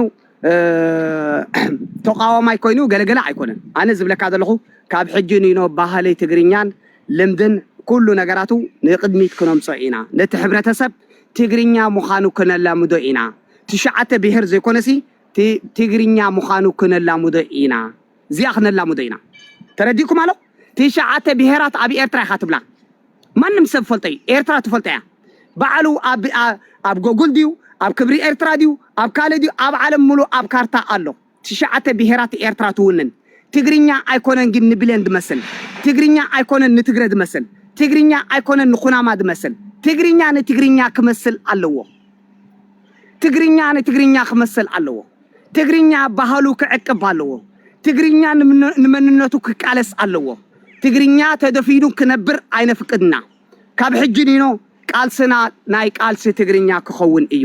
ተቃዋማይ ኮይኑ ገለገለ ኣይኮነን ኣነ ዝብለካ ዘለኹ ካብ ሕጂ ንይኖ ባህሊ ትግርኛን ልምድን ኩሉ ነገራቱ ንቅድሚት ክነምጾ ኢና ነቲ ሕብረተሰብ ትግርኛ ምዃኑ ክነላምዶ ኢና ትሽዓተ ብሄር ዘይኮነሲ ትግርኛ ምዃኑ ክነላምዶ ኢና እዚኣ ክነላምዶ ኢና ተረዲእኩም ኣሎ ትሽዓተ ብሄራት ኣብ ኤርትራ ኢኻ ትብላ ማንም ሰብ ፈልጦ እዩ ኤርትራ ትፈልጦ እያ ባዕሉ ኣብ ኣብ ጎጉል ድዩ ኣብ ክብሪ ኤርትራ ድዩ ኣብ ካልእ ድዩ ኣብ ዓለም ሙሉእ ኣብ ካርታ ኣሎ ትሽዓተ ብሄራት ኤርትራ ትውንን ትግርኛ ኣይኮነን ግን ንብሌን ድመስል ትግርኛ ኣይኮነን ንትግረ ድመስል ትግርኛ ኣይኮነን ንኩናማ ድመስል ትግርኛ ንትግርኛ ክመስል ኣለዎ ትግርኛ ንትግርኛ ክመስል ኣለዎ ትግርኛ ባህሉ ክዕቅብ ኣለዎ ትግርኛ ንመንነቱ ክቃለስ ኣለዎ ትግርኛ ተደፊኑ ክነብር ኣይነፍቅድ እና ካብ ሕጂ ኒኖ ቃልስና ናይ ቃልሲ ትግርኛ ክኸውን እዩ።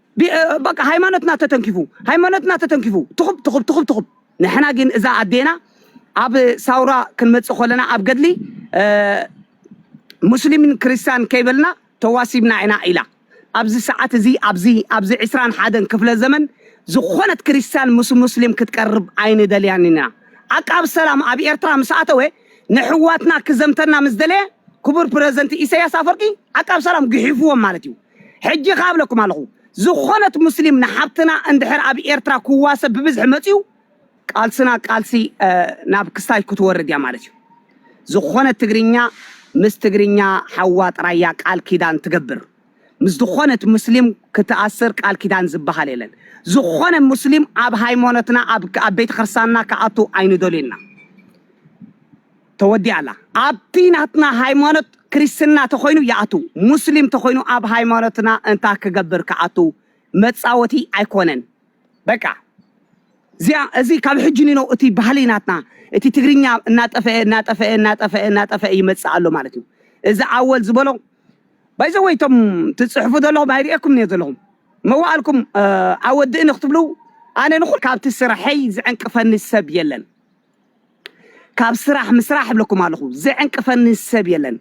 በቃ ሃይማኖትና ተተንኪፉ ሃይማኖትና ተተንኪፉ ትኹብ ትኹብ ትኹብ ትኹብ ንሕና ግን እዛ ኣዴና ኣብ ሳውራ ክንመፅእ ከለና ኣብ ገድሊ ሙስሊምን ክርስቲያን ከይበልና ተዋሲብና ኢና ኢላ ኣብዚ ሰዓት እዚ ኣብዚ ኣብዚ ዕስራን ሓደን ክፍለ ዘመን ዝኾነት ክርስቲያን ምስ ሙስሊም ክትቀርብ ኣይንደልያን ኢና ዓቃብ ሰላም ኣብ ኤርትራ ምስ ኣተወ ንሕዋትና ክዘምተና ምስ ደለየ ክቡር ፕረዚደንት ኢሳያስ ኣፈርቂ ዓቃብ ሰላም ግሒፍዎም ማለት እዩ ሕጂ ከኣ እብለኩም ኣለኹ ዝኾነት ሙስሊም ንሓብትና እንድሕር ኣብ ኤርትራ ክዋሰብ ብብዝሒ መጽዩ ቃልስና ቃልሲ ናብ ክስታሽ ክትወርድ እያ ማለት እዩ። ዝኾነት ትግርኛ ምስ ትግርኛ ሓዋ ጥራይ እያ ቃል ኪዳን ትገብር። ምስ ዝኾነት ሙስሊም ክትኣስር ቃል ኪዳን ዝበሃል የለን። ዝኾነ ሙስሊም ኣብ ሃይማኖትና ኣብ ቤተ ክርስቲያንና ክኣቱ ኣይንደልዩ እና። ተወዲኣ ኣላ ኣብቲ ናትና ሃይማኖት ክርስትና ተኮይኑ ይኣቱ ሙስሊም ተኮይኑ ኣብ ሃይማኖትና እንታ ክገብር ክኣቱ መጻወቲ ኣይኮነን በቃ እዚኣ እዚ ካብ ሕጂ ኒኖ እቲ ባህሊ ናትና እቲ ትግርኛ እናጠፈአ እናጠፈአ እናጠፈአ እናጠፈአ ይመጽእ ኣሎ ማለት እዩ እዚ ኣወል ዝበሎ ባይዘወይ እቶም ትጽሕፉ ዘለኹም ኣይርእየኩም እኒኦ ዘለኹም መዋእልኩም ኣወድእኒ ክትብሉ ኣነ ንኹል ካብቲ ስርሐይ ዝዕንቅፈኒ ሰብ የለን ካብ ስራሕ ምስራሕ እብለኩም ኣለኹ ዝዕንቅፈኒ ሰብ የለን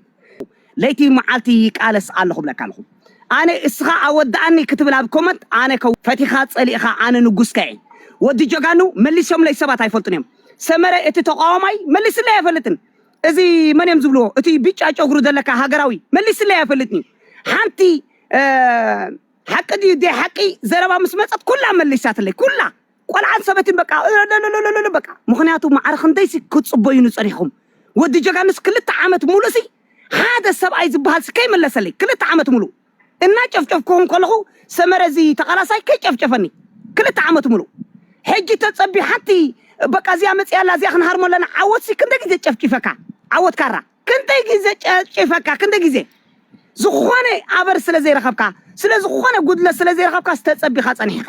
ለይቲ መዓልቲ ይቃለስ ኣለኹ ብለካ ኣለኹ ኣነ እስኻ ኣወዳኣኒ ክትብል ኣብ ኮመንት ኣነ ከ ፈቲኻ ጸሊእኻ ኣነ ንጉስካ እየ ወዲ ጀጋኑ መሊሶምለይ ሰባት ኣይፈልጡን እዮም ሰመረ እቲ ተቋዋማይ መሊስለይ ኣይፈልጥን እዚ መን እዮም ዝብልዎ እቲ ቢጫ ጨጉሩ ዘለካ ሃገራዊ መሊስለይ ኣይፈልጥን ሓንቲ ሓቂ ድዩ ደይ ሓቂ ዘረባ ምስ መጸት ኩላ መሊሳትለይ ኩላ ቆልዓን ሰበይትን በቃ እለለለለለለ በቃ ምኽንያቱ ማዕረ ክንደይሲ ክትጽበዩኒ ጸኒሕኩም ወዲ ጀጋኑስ ክልተ ዓመት ሙሉእሲ ሓደ ሰብኣይ ዝበሃልሲ ከይመለሰለይ ክልተ ዓመት ሙሉእ እናጨፍጨፍክኹም ከለኹ ሰመረ እዚ ተቓላሳይ ከይጨፍጨፈኒ ክልተ ዓመት ሙሉእ ሕጂ ተጸቢ ሓንቲ በቃ እዚኣ መጺኣ ኣላ እዚኣ ክንሃርሞ ኣለና ዓወትሲ ክንደይ ግዜ ጨፍጪፈካ ዓወት ካራ ክንደይ ግዜ ጨፍጪፈካ ክንደይ ግዜ ዝኾነ ኣበር ስለ ዘይረኸብካ ስለ ዝኾነ ጉድለት ስለ ዘይረኸብካ ዝተጸቢኻ ጸኒሕኻ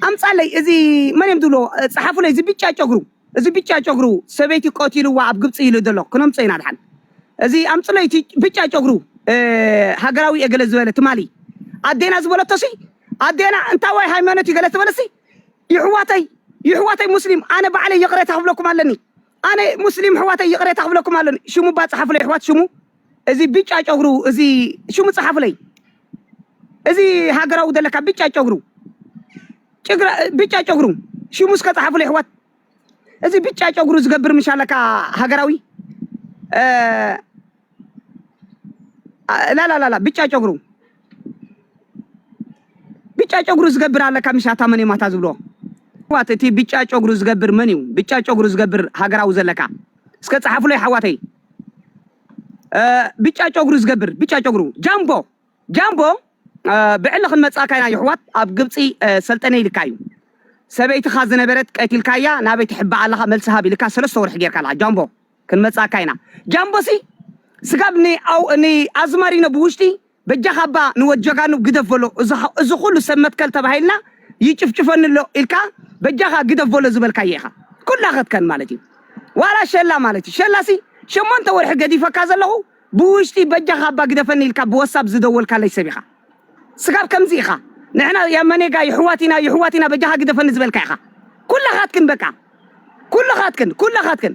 ኣምጻለይ እዚ መን እዮም ዝብሎ ጸሓፉለይ እዚ ብጫ ጨጉሩ እዚ ብጫ ጨጉሩ ሰበይቲ ቆቲልዋ ኣብ ግብጺ ኢሉ ዘሎ ክነምጾ ኢና ድሓን እዚ ኣምጽለይ እቲ ብጫ ጨጉሩ ሃገራዊ እየ ገለ ዝበለ ትማሊ ኣዴና ዝበለቶሲ ኣዴና እንታይ ወይ ሃይማኖት እዩ ገለ ዝበለሲ ይሕዋተይ ይሕዋተይ ሙስሊም ኣነ ባዕለይ ይቕሬታ ክብለኩም ኣለኒ ኣነ ሙስሊም ኣሕዋተይ ይቅሬታ ክብለኩም ኣለኒ ሽሙ እባ ጸሓፉለይ ኣሕዋት ሽሙ እዚ ብጫ ጨጉሩ እዚ ሽሙ ጸሓፉለይ እዚ ሃገራዊ ዘለካ ብጫ ጨጉሩ ጭግራ ብጫ ጨጉሩ ሽሙ እስከ ጸሓፉለይ ኣሕዋት እዚ ብጫ ጨጉሩ ዝገብር ምሻለካ ሃገራዊ ላላላላ ብጫ ጨጉሩ ብጫ ጨጉሩ ዝገብር ኣለካ ምሻታ መን እዩ ማታ ዝብሎ ዋት እቲ ብጫ ጨጉሩ ዝገብር መን እዩ ብጫ ጨጉሩ ዝገብር ሃገራዊ ዘለካ እስከ ፀሓፍሎይ ሓዋተይ ብጫ ጨጉሩ ዝገብር ብጫ ጨጉሩ ጃምቦ ጃምቦ ብዕሊ ክንመፃካ ኢና ይሕዋት ኣብ ግብፂ ሰልጠነ ኢልካ እዩ ሰበይትኻ ዝነበረት ቀቲልካያ ናበይ ትሕባእ ኣለኻ መልሲ ሃብ ኢልካ ሰለስተ ወርሒ ጌርካ ኣለኻ ጃምቦ ክንመጽኣካ ኢና ጃምቦሲ ስጋብ ን ን ኣዝማሪኖ ብውሽጢ በጃኻ እባ ንወድ ጀጋኑ ግደፍ በሎ እዚ ኩሉ ሰብ መትከል ተባሂልና ይጭፍጭፈኒ ኣሎ ኢልካ በጃኻ ግደፍ በሎ ዝበልካዮ ኢኻ ኩላ ክትከን ማለት እዩ ዋላ ሸላ ማለት እዩ ሸላሲ ሸሞንተ ወርሒ ገዲፈካ ዘለኹ ብውሽጢ በጃኻ እባ ግደፈኒ ኢልካ ብወሳብ ዝደወልካለይ ሰብ ኢኻ ስጋብ ከምዚ ኢኻ ንሕና ያመኔጋ ይሕዋት ኢና ይሕዋት ኢና በጃኻ ግደፈኒ ዝበልካ ኢኻ ኩላኻትክን በቃ ኩልኻትክን ኩላኻትክን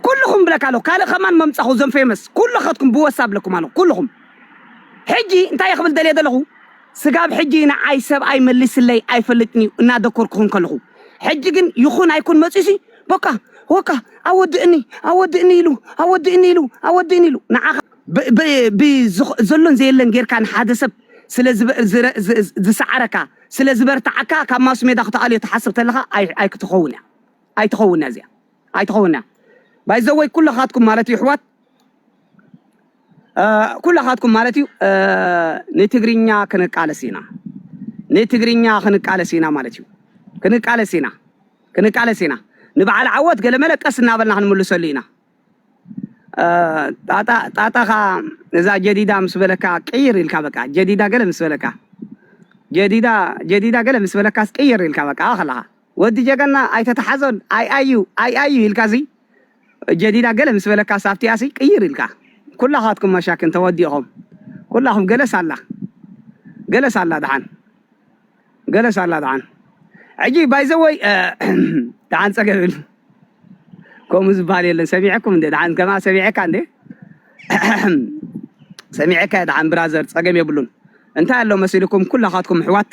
ኩልኹም ብለካ ኣለኹ ካልእ ከማን መምጻኹ ዘም ፌመስ ኩልኻትኩም ብወሳብ ለኩም ኣለኹ ኩልኹም ሕጂ እንታይ ክብል ደልየ ዘለኹ ስጋብ ሕጂ ንዓይ ሰብኣይ መሊስለይ ኣይፈልጥን እዩ እናደኮርኩኹም ከለኹ ሕጂ ግን ይኹን ኣይኩን መጽዩሲ ቦቃ ወቃ ኣወድእኒ ኣወድእኒ ኢሉ ኣወድእኒ ኢሉ ኣወድእኒ ኢሉ ንዓኻ ዘሎን ዘየለን ጌርካ ንሓደ ሰብ ስለ ዝሰዓረካ ስለ ዝበርትዓካ ካብ ማስሜዳ ክትኣልዮ ትሓስብ ተለኻ ኣይክትኸውን እያ ኣይትኸውን እያ እዚኣ ኣይትኸውን እያ ባይዘወይ ኩለኻትኩም ማለት እዩ ኣሕዋት ኩለኻትኩም ማለት እዩ ንትግርኛ ክንቃለስ ኢና ንትግርኛ ክንቃለስ ኢና ማለት እዩ ክንቃለስ ኢና ክንቃለስ ኢና ንበዓል ዓወት ገለመለ ቀስ እናበልና ክንምልሰሉ ኢና። ጣጣ ጣጣኻ እዛ ጀዲዳ ምስ በለካ ቅይር ኢልካ በቃ ጀዲዳ ገለ ምስ በለካ ጀዲዳ ጀዲዳ ገለ ምስ በለካስ ቅይር ኢልካ በቃ ኣኸለኻ ወዲ ጀገና ኣይተተሓዞን ኣይ ኣዩ ኣይ ኣዩ ኢልካ እዚ ጀዲዳ ገለ ምስ በለካ ሳብቲያሲ ቅይር ኢልካ ኩላኻትኩም መሻክን ተወዲእኹም ኩላኹም ገለስ ኣላ ገለስ ኣላ ደሓን ገለ ሳላ ደሓን ሕጂ ባይ ዘ ወይ ደሓን ጸገም የብሉ ከምኡ ዝበሃል የለን ሰሚዐኩም እንዴ ደሓን ከማ ሰሚዐካ እንዴ ሰሚዐካ ደሓን ብራዘር ጸገም የብሉን እንታይ ኣሎ መሲልኩም ኩላኻትኩም ሕዋት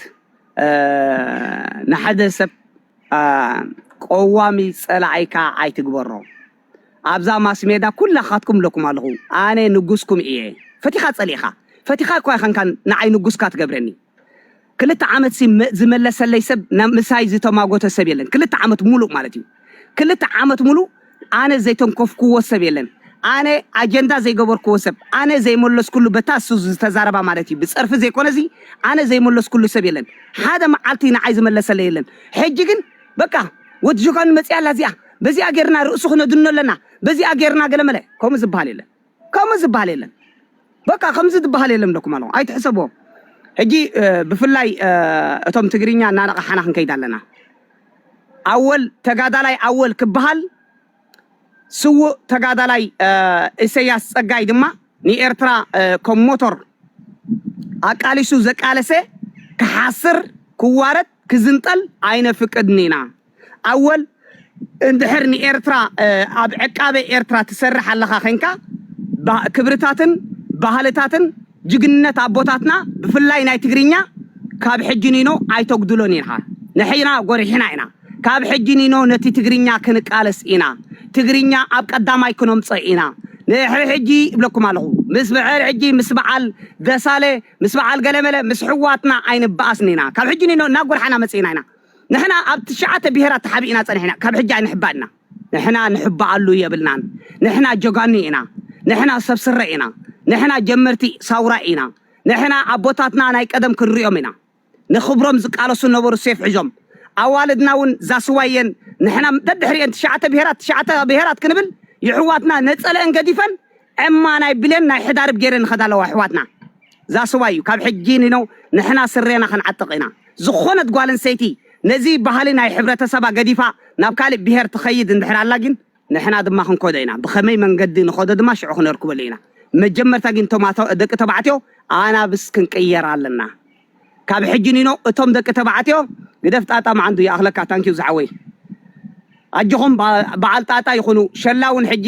ንሓደ ሰብ ቀዋሚ ጸላኣይካ ኣይትግበሮ ኣብዛ ማስሜዳ ኩላካትኩም እለኩም ኣለኩ ኣነ ንጉስኩም እየ ፈቲካ ጸሊእካ ፈቲካ እኳ ኣይከንካን ንዓይ ንጉስካ ትገብረኒ ክልተ ዓመት ሲ ዝመለሰለይ ሰብ ምሳይ ዝተማጎተ ሰብ የለን ክልተ ዓመት ሙሉእ ማለት እዩ ክልተ ዓመት ሙሉእ ኣነ ዘይተንኮፍኩዎ ሰብ የለን ኣነ ኣጀንዳ ዘይገበርኩዎ ሰብ ኣነ ዘይመለስኩሉ በታ እሱ ዝተዛረባ ማለት እዩ ብጸርፊ ዘይኮነ እዚ ኣነ ዘይመለስኩሉ ሰብ የለን ሓደ መዓልቲ ንዓይ ዝመለሰለይ የለን ሕጂ ግን በቃ ወዲ ጆጋኑ መጽያ ኣላ እዚኣ በዚኣ ጌርና ርእሱ ክነድኖ ኣለና፣ በዚኣ ጌርና ገለመለ ከምኡ ዝብሃል የለን፣ ከምኡ ዝብሃል የለን፣ በቃ ከምዚ ዝብሃል የለን እብለኩም ኣለኹ ኣይትሕሰብዎ። ሕጂ ብፍላይ እቶም ትግርኛ እናነቓሓና ክንከይድ ኣለና። ኣወል ተጋዳላይ ኣወል ክብሃል ስውእ ተጋዳላይ እሰያስ ጸጋይ ድማ ንኤርትራ ከም ሞቶር ኣቃሊሱ ዘቃለሰ ክሓስር ክዋረድ ክዝንጠል ኣይነፍቅድን ኢና። ኣወል እንድሕር ንኤርትራ ኣብ ዕቃበ ኤርትራ ትሰርሕ ኣለኻ ዄንካ ክብርታትን ባህልታትን ጅግንነት ኣቦታትና ብፍላይ ናይ ትግርኛ ካብ ሕጂ ኒኖ ኣይተጉድሎን ኢኻ ንሕና ጎሪሕና ኢና ካብ ሕጂ ኒኖ ነቲ ትግርኛ ክንቃለስ ኢና ትግርኛ ኣብ ቀዳማይ ክነምጾ ኢና ንድሕሪ ሕጂ ይብለኩም ኣለኹ ምስ ብዕር ሕጂ ምስ በዓል ደሳለ ምስ በዓል ገለመለ ምስ ሕዋትና ኣይንበኣስን ኢና ካብ ሕጂ ኒኖ እናጎርሓና መጺእና ኢና ንሕና ኣብ ትሽዓተ ብሄራት ተሓቢእና ጸኒሕና ካብ ሕጂ ኣይንሕባእ ኢና። ንሕና ንሕባኣሉ የብልናን ንሕና ጀጋኑ ኢና ንሕና ሰብ ስረ ኢና ንሕና ጀመርቲ ሳውራ ኢና ንሕና ኣቦታትና ናይ ቀደም ክንሪኦም ኢና ንክብሮም ዝቃለሱ ነበሩ ሴፍ ሒዞም ኣዋልድና ውን ዛስዋ የን ንሕና ደድሕሪኤን ትሽዓተ ብሄራት ትሽዓተ ብሄራት ክንብል ይሕዋትና ነጸለኤን ገዲፈን ዕማ ናይ ብሌን ናይ ሕዳርብ ጌረን ይኸዳ ኣለዋ ኣሕዋትና that's why እዩ ካብ ሕጂ ንነው ንሕና ስሬና ክንዓጥቕ ኢና ዝኾነት ጓል ኣንሰይቲ ነዚ ባህሊ ናይ ሕብረተሰባ ገዲፋ ናብ ካልእ ብሄር ትኸይድ እንድሕር ኣላ ግን ንሕና ድማ ክንኮዶ ኢና ብኸመይ መንገዲ ንኸዶ ድማ ሽዑ ክነርክበሉ ኢና መጀመርታ ግን እቶም ደቂ ተባዕትዮ ኣናብስ ክንቅየር ኣለና ካብ ሕጂ ኒኖ እቶም ደቂ ተባዕትዮ ግደፍ ጣጣ ማዓንጡ ይኣኽለካ ታንኪው ዝሓወይ ኣጆኹም ባዓል ጣጣ ይኹኑ ሸላ ውን ሕጂ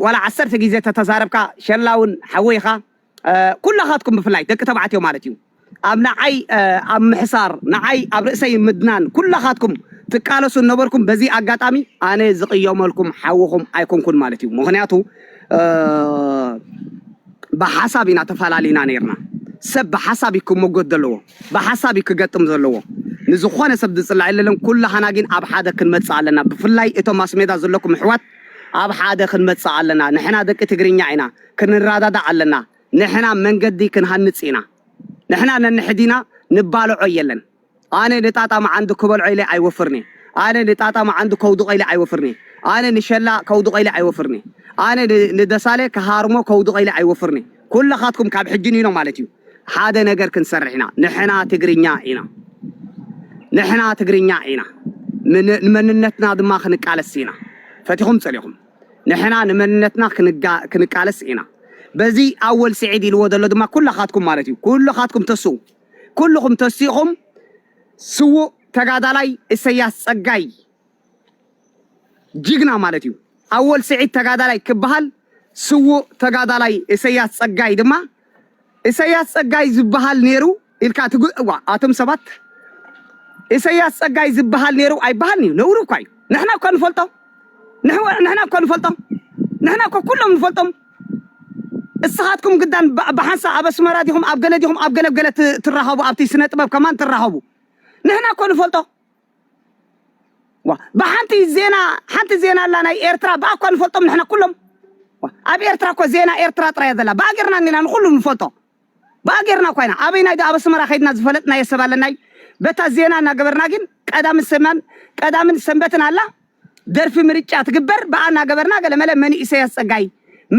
ዋላ ዓሰርተ ግዜ ተተዛረብካ ሸላ ውን ሓወይ ኢኻ ኩላኻትኩም ብፍላይ ደቂ ተባዕትዮ ማለት እዩ ኣብ ንዓይ ኣብ ምሕሳር ንዓይ ኣብ ርእሰይ ምድናን ኩላኻትኩም ትቃለሱ ነበርኩም በዚ ኣጋጣሚ ኣነ ዝቅየመልኩም ሓውኹም ኣይኮንኩን ማለት እዩ ምኽንያቱ ብሓሳብ ኢና ተፈላሊና ነርና ሰብ ብሓሳብ እዩ ክሞጎት ዘለዎ ብሓሳብ እዩ ክገጥም ዘለዎ ንዝኾነ ሰብ ዝፅላዕ የለለን ኩላህና ግን ኣብ ሓደ ክንመፅእ ኣለና ብፍላይ እቶም ማስሜዳ ዘለኩም ኣሕዋት ኣብ ሓደ ክንመፅእ ኣለና ንሕና ደቂ ትግርኛ ኢና ክንረዳዳእ ኣለና ንሕና መንገዲ ክንሃንፅ ኢና ንሕና ነንሕዲና ንባልዖ የለን ኣነ ንጣጣ መዓንዱ ክበልዖ ኢለ ኣይወፍርን'የ ኣነ ንጣጣ መዓንዱ ከውድቖ ኢለ ኣይወፍርን'የ ኣነ ንሸላ ከውድቖ ኢለ ኣይወፍርን'የ ኣነ ንደሳለ ክሃርሞ ከውድቖ ኢለ ኣይወፍርን'የ ኩላኻትኩም ካብ ሕጂ ንይኖ ማለት'ዩ ሓደ ነገር ክንሰርሕ ኢና ንሕና ትግርኛ ኢና ንሕና ትግርኛ ኢና ንመንነትና ድማ ክንቃለስ ኢና ፈቲኹም ጸሊኹም ንሕና ንመንነትና ክንቃለስ ኢና በዚ ኣወል ስዒድ ኢልዎ ዘሎ ድማ ኩላኻትኩም ማለት'ዩ ኩላኻትኩም ተስኡ ኩሉኹም ተሲእኹም ስዉእ ተጋዳላይ እሰያስ ጸጋይ ጅግና ማለት እዩ ኣወል ስዒድ ተጋዳላይ ክበሃል ስዉእ ተጋዳላይ እሰያስ ጸጋይ ድማ እሰያስ ጸጋይ ዝበሃል ነይሩ ኢልካ ትግእዋ ኣቶም ሰባት እሰያስ ጸጋይ ዝበሃል ነይሩ ኣይበሃልን እዩ ነውሪ እኳ እዩ ንሕና እኳ ንፈልጦ ንሕና እኳ ንፈልጦ ንሕና እኳ ኩሎም ንፈልጦም እስኻትኩም ግዳን ብሓንሳእ ኣብ ኣስመራ ዲኹም ኣብ ገለ ዲኹም ኣብ ገለ ገለ ትራኸቡ ኣብቲ ስነ ጥበብ ከማን ትራኸቡ ንሕና እኮ ንፈልጦ ብሓንቲ ዜና ሓንቲ ዜና ኣላ ናይ ኤርትራ ብኣ እኳ ንፈልጦም ንሕና ኩሎም ኣብ ኤርትራ እኮ ዜና ኤርትራ ጥራያ ዘላ ብኣ ጌርና ኒና ንኹሉ ንፈልጦ ባእ ጌርና እኳ ኢና ኣበይናይ ዶ ኣብ ኣስመራ ከይድና ዝፈለጥናዮ ሰብ ኣለናይ በታ ዜና እናገበርና ግን ቀዳምን ሰማን ቀዳምን ሰንበትን ኣላ ደርፊ ምርጫ ትግበር ብኣ እናገበርና ገለመለ መን እዩ ኢሰያስ ጸጋይ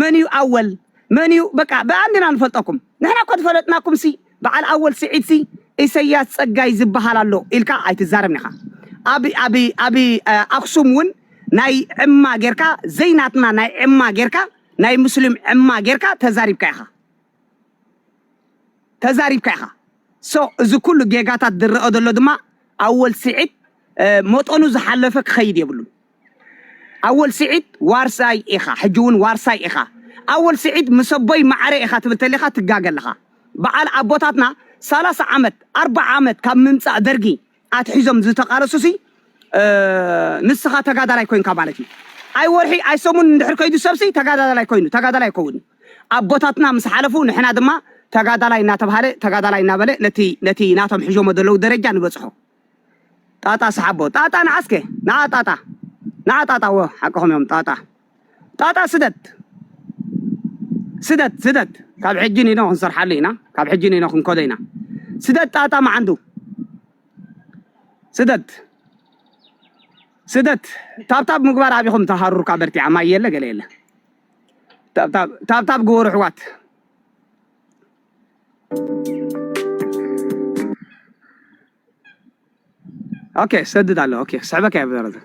መን እዩ ኣወል መን እዩ በቃ ብኣ እንዲና ንፈልጠኩም ንሕና እኮ ዝፈለጥናኩም ሲ በዓል ኣወል ስዒድ ሲ ኢሰያስ ጸጋይ ዝበሃል ኣሎ ኢልካ ኣይትዛረብን ኢኻ ኣብ ኣብ ኣብ ኣክሱም እውን ናይ ዕማ ጌርካ ዘይናትና ናይ ዕማ ጌርካ ናይ ሙስሊም ዕማ ጌርካ ተዛሪብካ ኢኻ ተዛሪብካ ኢኻ so እዚ ኩሉ ጌጋታት ዝረኣ ዘሎ ድማ ኣወል ስዒድ መጠኑ ዝሓለፈ ክኸይድ የብሉን ኣወል ስዒድ ዋርሳይ ኢኻ ሕጂ እውን ዋርሳይ ኢኻ ኣወል ስዒድ ምስ ኣቦይ ማዕረ ኢኻ ትብል ተሊኻ ትጋገ ኣለኻ በዓል ኣቦታትና ሰላሳ ዓመት ኣርባዓ ዓመት ካብ ምምፃእ ደርጊ ኣትሒዞም ዝተቃለሱሲ ንስኻ ተጋዳላይ ኮይንካ ማለት እዩ ኣይ ወርሒ ኣይ ሰሙን እንድሕር ከይዱ ሰብሲ ተጋዳላይ ኮይኑ ተጋዳላይ ኣይከውን ኣቦታትና ምስ ሓለፉ ንሕና ድማ ተጋዳላይ እናተብሃለ ተጋዳላይ እናበለ ነቲ ነቲ ናቶም ሕዦሞ ዘለዉ ደረጃ ንበጽሖ ጣጣ ሰሓቦ ጣጣ ንዓስከ ንዓ ጣጣ ንዓ ጣጣ ወ ሓቅኹም እዮም ጣጣ ጣጣ ስደት ስደት ስደት ካብ ሕጂ ኒኖ ክንሰርሓሉ ኢና ካብ ሕጂ ኒኖ ክንከዶ ኢና ስደት ጣጣ መዓንዱ ስደት ስደት ታብታብ ምግባር ኣቢኹም ተሃሩርካ በርቲዓ ማይ የለ ገለ የለ ታብታብ ግበሩ ኣሕዋት ኦኬ ሰድድ ኣሎ ኦኬ ክስዕበካ እየ ብዘረዘ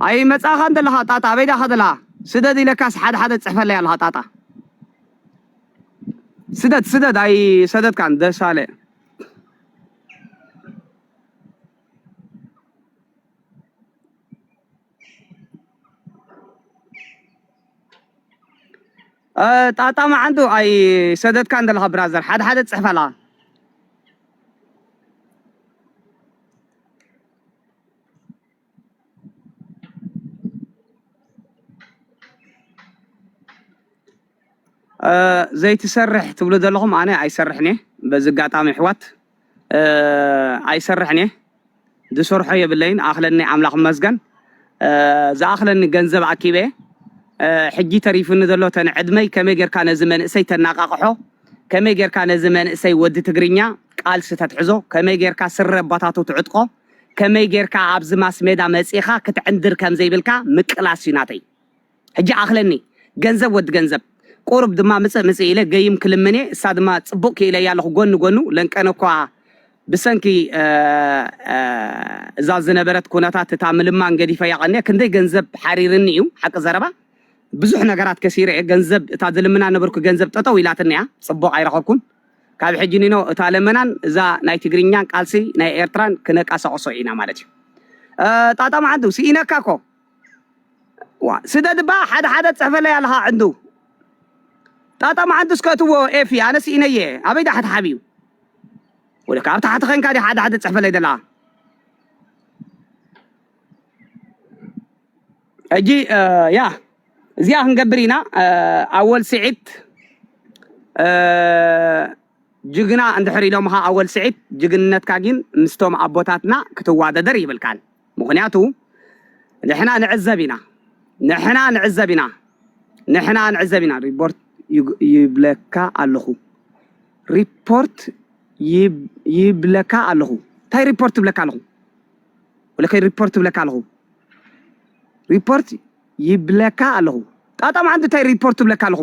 ኣይ መጻኻ እንተለኻ ጣጣ ኣበይ ዳኻ ዘለኻ ስደድ ኢለካስ ሓደ ሓደ ጽሕፈለይ ኣለኻ ጣጣ ስደድ ስደድ ኣይ ሰደድካን ደሳለ ጣጣ ማዓንጡ ኣይሰደትካን ዘለካ ብራዘር ሓደ ሓደ ትጽሕፍ ኣለካ። ዘይትሰርሕ ትብሉ ዘለኹም ኣነ ኣይሰርሕን እየ በዚ ኣጋጣሚ ኣሕዋት ኣይሰርሕን እየ ዝሰርሖ የብለይን ኣኽለኒ ኣምላኽ መስገን ዝኣኽለኒ ገንዘብ ኣኪበ ሕጂ ተሪፉኒ ዘሎ ተን ዕድመይ ከመይ ጌርካ ነዚ መንእሰይ ተናቃቕሖ ከመይ ጌርካ ነዚ መንእሰይ ወዲ ትግርኛ ቃልሲ ተትሕዞ ከመይ ጌርካ ስረ ኣባታቱ ትዕጥቆ ከመይ ጌርካ ኣብዚ ማስሜዳ መጺኻ ክትዕንድር ከም ዘይብልካ ምቅላስ እዩ ናተይ ሕጂ ኣኽለኒ ገንዘብ ወዲ ገንዘብ። ቁሩብ ድማ ምጽእ ምጽእ ኢለ ገይም ክልምን እየ እሳ ድማ ጽቡቅ ኪኢለያ ኣለኹ ጎኒ ጎኑ ለንቀነ እኳ ብሰንኪ እዛ ዝነበረት ኩነታት እታ ምልማን ገዲፈያ ቀንየ ክንደይ ገንዘብ ሓሪርኒ እዩ ሓቂ ዘረባ ብዙሕ ነገራት ከሲረ እየ ገንዘብ እታ ዝልምና ነበርኩ ገንዘብ ጠጠው ኢላትኒ እያ ጽቡቅ ኣይረኸብኩን ካብ ሕጂ ኒኖ እታ ለመናን እዛ ናይ ትግርኛን ቃልሲ ናይ ኤርትራን ክነቃሳቅሶ ኢና ማለት እዩ ጣጣ መዓንቱ ስኢነካ እኮ ዋ ስደድ እባ ሓደ ሓደ ትጽሕፈለይ ኣለኻ ዕንዱ ጣጣ መዓንዱስ ከእትዎ ኤፊ ኣነ ስኢነየ ኣበይ ዳሓት ሓብዩ ወደ ካብ ታሕቲ ኸንካ ዲ ሓደ ሓደ ትጽሕፈለይ ደላ ሕጂ ያ እዚኣ ክንገብር ኢና ኣወል ስዒድ ጅግና እንድሕር ኢሎምኻ ኣወል ስዒድ ጅግንነትካ ግን ምስቶም ኣቦታትና ክትዋደደር ይብልካን ምኽንያቱ ንሕና ንዕዘብ ኢና ንሕና ንዕዘብ ኢና ንሕና ንዕዘብ ኢና ሪፖርት ይብለካ ኣለኹ ሪፖርት ይብለካ ኣለኹ እንታይ ሪፖርት ይብለካ ኣለኹ ወለከይ ሪፖርት ይብለካ ኣለኹ ሪፖርት ይብለካ ኣለኹ ጣጣ መዓንቲ እንታይ ሪፖርት ይብለካ ኣለኹ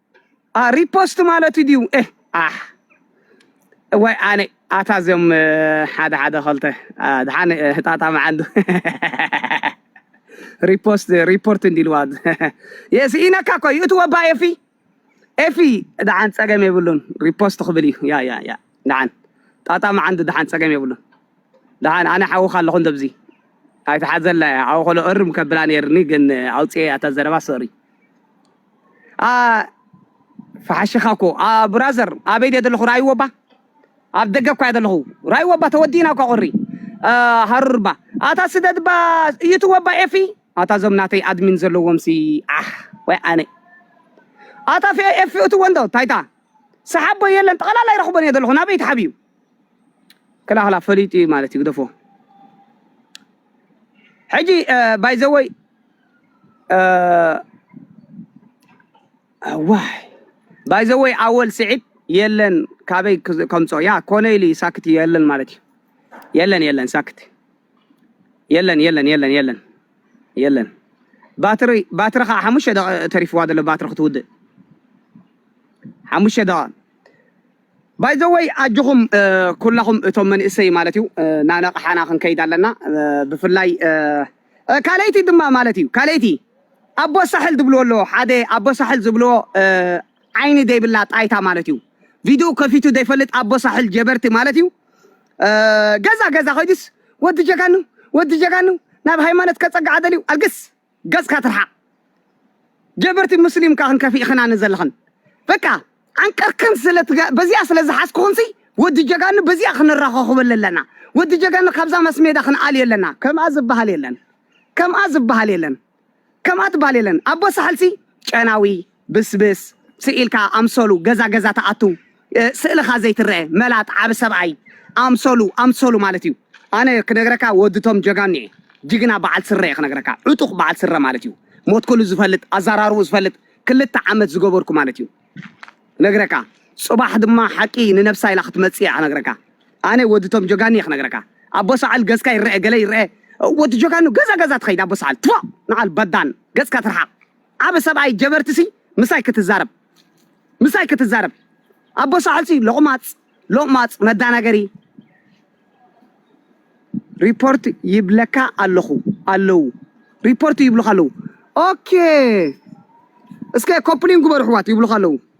ሪፖስት ማለት ድዩ ኣሕ ወይ ኣነ ኣታ እዚኦም ሓደ ሓደ ከልተ ድሓን ህጣጣ መዓንዱ ሪፖስት ሪፖርት እንዲልዋ የስኢነካ እኮ እዩ እቲ ወባ ኤፊ ኤፊ ድሓን ፀገም የብሉን ሪፖስት ክብል እዩ ያ ያ ያ ድሓን ጣጣ መዓንዱ ድሓን ፀገም የብሉን ድሓን ኣነ ሓውካ ኣለኹ እንደብዚ ኣይትሓዘላ እያ ሓው ከሎ እርም ከብላ ነይርኒ ግን ኣውፅኤ ኣታ ዘረባ ሶሪ ፈሓሽኻ እኮ ብራዘር ኣበይ ድየ ዘለኹ ራእይዎ እባ ኣብ ደገ እኳ እየ ዘለኹ ራእይዎ እባ ተወዲእና እኳ ቁሪ ሃሩር እባ ኣታ ስደት እባ እዩትዎ እባ ኤፊ ኣታ እዞም ናተይ ኣድሚን ዘለዎም ሲ ዓሕ ወይ ኣነ ኣታ ፌ ኤፊ እትዎ እንዶ ታይታ ሰሓቦ የለን ጠቕላላ ይረኽቦን እየ ዘለኹ ናበይ ተሓብዩ ክላክላ ፈሊጡ እዩ ማለት እዩ ግደፎ ሕጂ ባይዘወይ ዋይ ባይዘወይ ኣወል ስዒድ የለን ካበይ ከምፆ ያ ኮነ ኢሉ ሳክት የለን ማለት እዩ የለን የለን ሳክት የለን የለን የለን የለን የለን ባትሪ ባትሪ ከዓ ሓሙሽተ ደቂ ተሪፍዋ ዘሎ ባትሪ ክትውድእ ሓሙሽተ ደቂ ባይ ዘ ወይ ኣጆኹም ኩላኹም እቶም መንእሰይ ማለት እዩ ናነቕሓና ክንከይድ ኣለና ብፍላይ ካልኣይቲ ድማ ማለት እዩ ካልኣይቲ ኣቦ ሳሕል ዝብልዎ ኣለዎ ሓደ ኣቦ ሳሕል ዝብልዎ ዓይኒ ዘይብላ ጣይታ ማለት እዩ ቪድኡ ከፊቱ ዘይፈልጥ ኣቦ ሳሕል ጀበርቲ ማለት እዩ ገዛ ገዛ ኮይዱስ ወዲ ጀጋኑ ወዲ ጀጋኑ ናብ ሃይማኖት ከጸግዓ ደልዩ ኣልግስ ገጽካ ትርሓቅ ጀበርቲ ሙስሊም እካ ክንከፊእክናኒ ዘለክን በቃ ዓንቀርክን ስለ በዚኣ ስለ ዝሓዝኩክንሲ ወዲ ጀጋኑ በዚኣ ክንራኸኹበለ ኣለና ወዲ ጀጋኑ ካብዛ መስሜዳ ክንኣልዮ ኣለና ከምኣ ዝበሃል የለን ከምኣ ዝበሃል የለን ከምኣ ትበሃል የለን ኣቦ ሳሕልሲ ጨናዊ ብስብስ ስኢልካ ኣምሰሉ ገዛ ገዛ ትኣትው ስእልኻ ዘይትረኤ መላጥ ዓቢ ሰብኣይ ኣምሰሉ ኣምሰሉ ማለት እዩ ኣነ ክነግረካ ወዲ ቶም ጀጋኑ እየ ጅግና በዓል ስረ እየ ክነግረካ ዕጡቕ በዓል ስረ ማለት እዩ ሞትኩሉ ዝፈልጥ ኣዛራርቡ ዝፈልጥ ክልተ ዓመት ዝገበርኩ ማለት እዩ ነግረካ ጽባሕ ድማ ሓቂ ንነብሳ ኢላ ክትመጽእ እያ ክነግረካ ኣነ ወዲ ቶም ጀጋኑ እየ ክነግረካ ኣቦ ሰዓል ገዝካ ይረኤ ገለ ይረኤ ወዲ ጀጋኑ ገዛ ገዛ ትኸይድ ኣቦ ሰዓል ትፎእ ንዓል በዳን ገጽካ ትርሓቕ ዓቢ ሰብኣይ ጀበርቲ ሲ ምሳይ ክትዛረብ ምሳይ ክትዛረብ ኣቦ ሳሕል ሲ ሎቅማጽ ሎቅማጽ መዳናገሪ ሪፖርት ይብለካ ኣለኹ ኣለዉ ሪፖርት ይብሉካ ኣለዉ ኦኬ እስከ ኮፕሊን ግበሩ ኣሕዋት ይብሉካ ኣለዉ።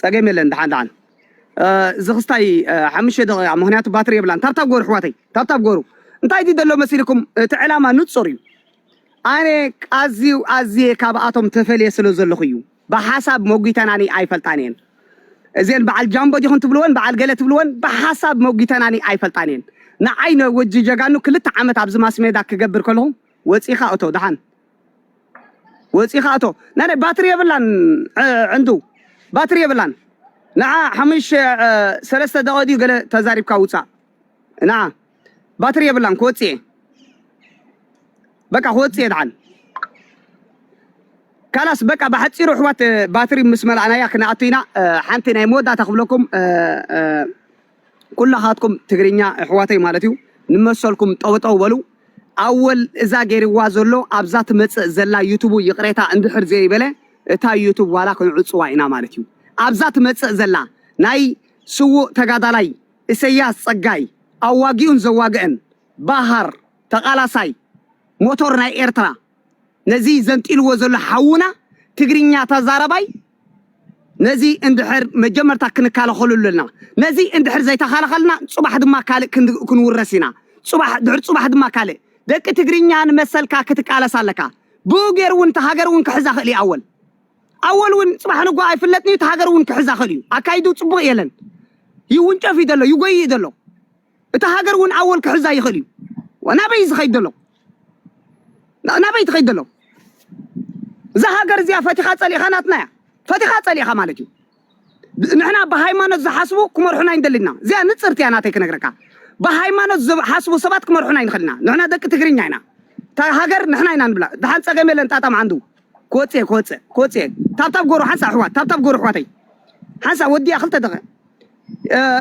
ጸገም የለን ድሓን ድሓን እዚ ክስታይ ሓሙሽተ ደቂቃ ምክንያቱ ባትሪ የብላን ታብታብ ጎሩ ኣሕዋተይ ታብታብ ጎሩ እንታይ ድዩ ዘሎ መሲልኩም እቲ ዕላማ ንጹር እዩ ኣነ ኣዝዩ ኣዝየ ካብኣቶም ተፈልየ ስለ ዘለኹ እዩ ብሓሳብ መጒተናኒ ኣይፈልጣን እየን እዚአን በዓል ጃምቦ ዲኹን ትብልወን በዓል ገለ ትብልወን ብሓሳብ መጒተናኒ ኣይፈልጣን እየን ንዓይ ወጂ ጀጋኑ ክልተ ዓመት ኣብዚ ማስሜዳ ክገብር ከለኹ ወፂኻ እቶ ደሓን ወጺኻ ኣቶ ናይ ናይ ባትሪ የብላን ዕንዱ ባትሪ የብላን ንዓ ሓሙሽ ሰለስተ ደቂ ድዩ ገለ ተዛሪብካ ውጻእ ንዓ ባትሪ የብላን ክወጽእ እየ በቃ ክወጽእ እየ ድዓል ካላስ በቃ ብሓፂሩ ኣሕዋት ባትሪ ምስ መላእናያ ክንኣቱ ኢና ሓንቲ ናይ መወዳእታ ክብለኩም ኩላኻትኩም ትግርኛ እሕዋተይ ማለት እዩ ንመሰልኩም ጠውጠው በሉ ኣወል እዛ ገይርዋ ዘሎ ኣብዛ ትመጽእ ዘላ ዩቱቡ ይቕሬታ እንድሕር ዘይበለ እታ ዩቱብ ዋላ ክንዕጽዋ ኢና ማለት እዩ ኣብዛ ትመጽእ ዘላ ናይ ስዉእ ተጋዳላይ እሰያስ ጸጋይ ኣዋጊኡን ዘዋግእን ባሃር ተቓላሳይ ሞቶር ናይ ኤርትራ ነዚ ዘንጢልዎ ዘሎ ሓውና ትግርኛ ተዛረባይ ነዚ እንድሕር መጀመርታ ክንካለኸሉ ኣለና። ነዚ እንድሕር ዘይተኻለኸልና ጽባሕ ድማ ካልእ ክንውረስ ኢና። ጽባሕ ድሕር ጽባሕ ድማ ካልእ። ደቂ ትግርኛ ንመሰልካ ክትቃለስ ኣለካ። ብኡ ገይሩ እውን እታ ሃገር እውን ክሕዛ ክእል እዩ ኣወል ኣወል እውን ጽባሕ ንጎ ኣይፍለጥን እዩ እቲ ሃገር እውን ክሕዛ ክእል እዩ። ኣካይዱ ጽቡቕ የለን ይውንጨፍ እዩ ዘሎ ይጎይ እዩ ዘሎ እታ ሃገር እውን ኣወል ክሕዛ ይኽእል እዩ። ናበይ ዝኸይድ ዘሎ ናበይ ትኸይድ ዘሎ እዛ ሃገር እዚኣ ፈቲኻ ጸሊእኻ ናትና እያ ፈቲኻ ጸሊእኻ ማለት እዩ። ንሕና ብሃይማኖት ዝሓስቡ ክመርሑና ይንደሊ ኢና። እዚኣ ንጽርቲ እያ ናተይ ክነግረካ ብሃይማኖት ዝሓስቡ ሰባት ክመርሑና ይንኽእል ኢና። ንሕና ደቂ ትግርኛ ኢና እታ ሃገር ንሕና ኢና ንብላ። ድሓን ጸገም የለን ጣጣም ዓንዱ ክወጽእ ክወጽእ ክወጽእ ታብታብ ጎሩ ሓንሳእ ኣሕዋት ታብታብ ጎሩ ኣሕዋተይ ሓንሳእ ወዲኣ ክልተ ደቐ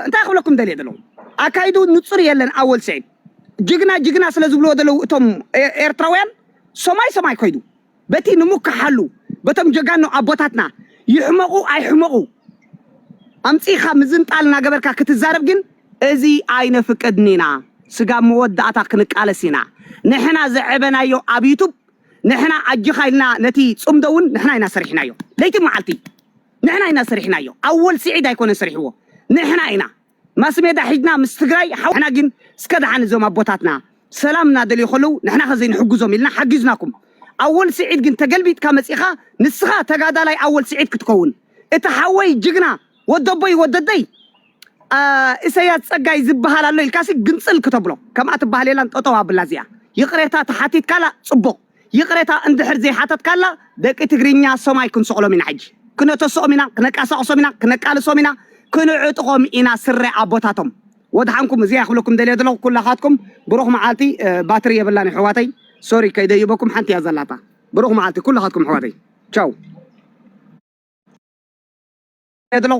እንታይ ክብለኩም ደልየ ዘለኹ ኣካይድኡ ንጹር የለን ኣወል ስዒድ ጅግና ጅግና ስለ ዝብልዎ ዘለዉ እቶም ኤርትራውያን ሰማይ ሰማይ ኮይዱ በቲ ንምከሓሉ በቶም ጀጋኑ ኣቦታትና ይሕመቑ ኣይሕመቑ ኣምጺኻ ምዝንጣል እናገበርካ ክትዛረብ ግን እዚ ኣይነፍቅድን ኢና ስጋብ መወዳእታ ክንቃለስ ኢና ንሕና ዘዕበናዮ ኣብ ዩቱብ ንሕና ኣጅኻ ኢልና ነቲ ጽምዶ እውን ንሕና ኢና ሰሪሕናዮ ለይቲ መዓልቲ ንሕና ኢና ሰሪሕናዮ ኣወል ሲዒድ ኣይኮነን ሰሪሕዎ ንሕና ኢና ማስሜዳ ሒድና ምስ ትግራይ ሓው ንሕና ግን እስከ ድሓን እዞም ኣቦታትና ሰላም እናደልዩ ከለዉ ንሕናኸ ዘይንሕግዞም ኢልና ሓጊዝናኩም ኣወል ሲዒድ ግን ተገልቢጥካ መጺእኻ ንስኻ ተጋዳላይ ኣወል ሲዒድ ክትከውን እቲ ሓወይ ጅግና ወደቦይ ወደደይ እሰያስ ጸጋይ ዝብሃል ኣሎ ኢልካሲ ግንጽል ክተብሎ ከምኣ ትብሃል የላን ጠጠው ኣብላ እዚኣ ይቕሬታ ተሓቲትካላ ጽቡቕ ይቅሬታ እንድሕር ዘይሓተትካላ ደቂ ትግርኛ ሰማይ ክንሰቅሎም ኢና ሕጂ ክነተስኦም ኢና ክነቃሳቅሶም ኢና ክነቃልሶም ኢና ክንዕጥቆም ኢና ስረ ኣቦታቶም ወድሓንኩም እዚኣ ክብለኩም ደልየ ዘለኹ ኩላኻትኩም ብሩኽ መዓልቲ ባትሪ የብላን ኣሕዋተይ ሶሪ ከይደይበኩም ሓንቲ እያ ዘላታ ብሩኽ መዓልቲ ኩላኻትኩም ኣሕዋተይ ቻው ዘለኹ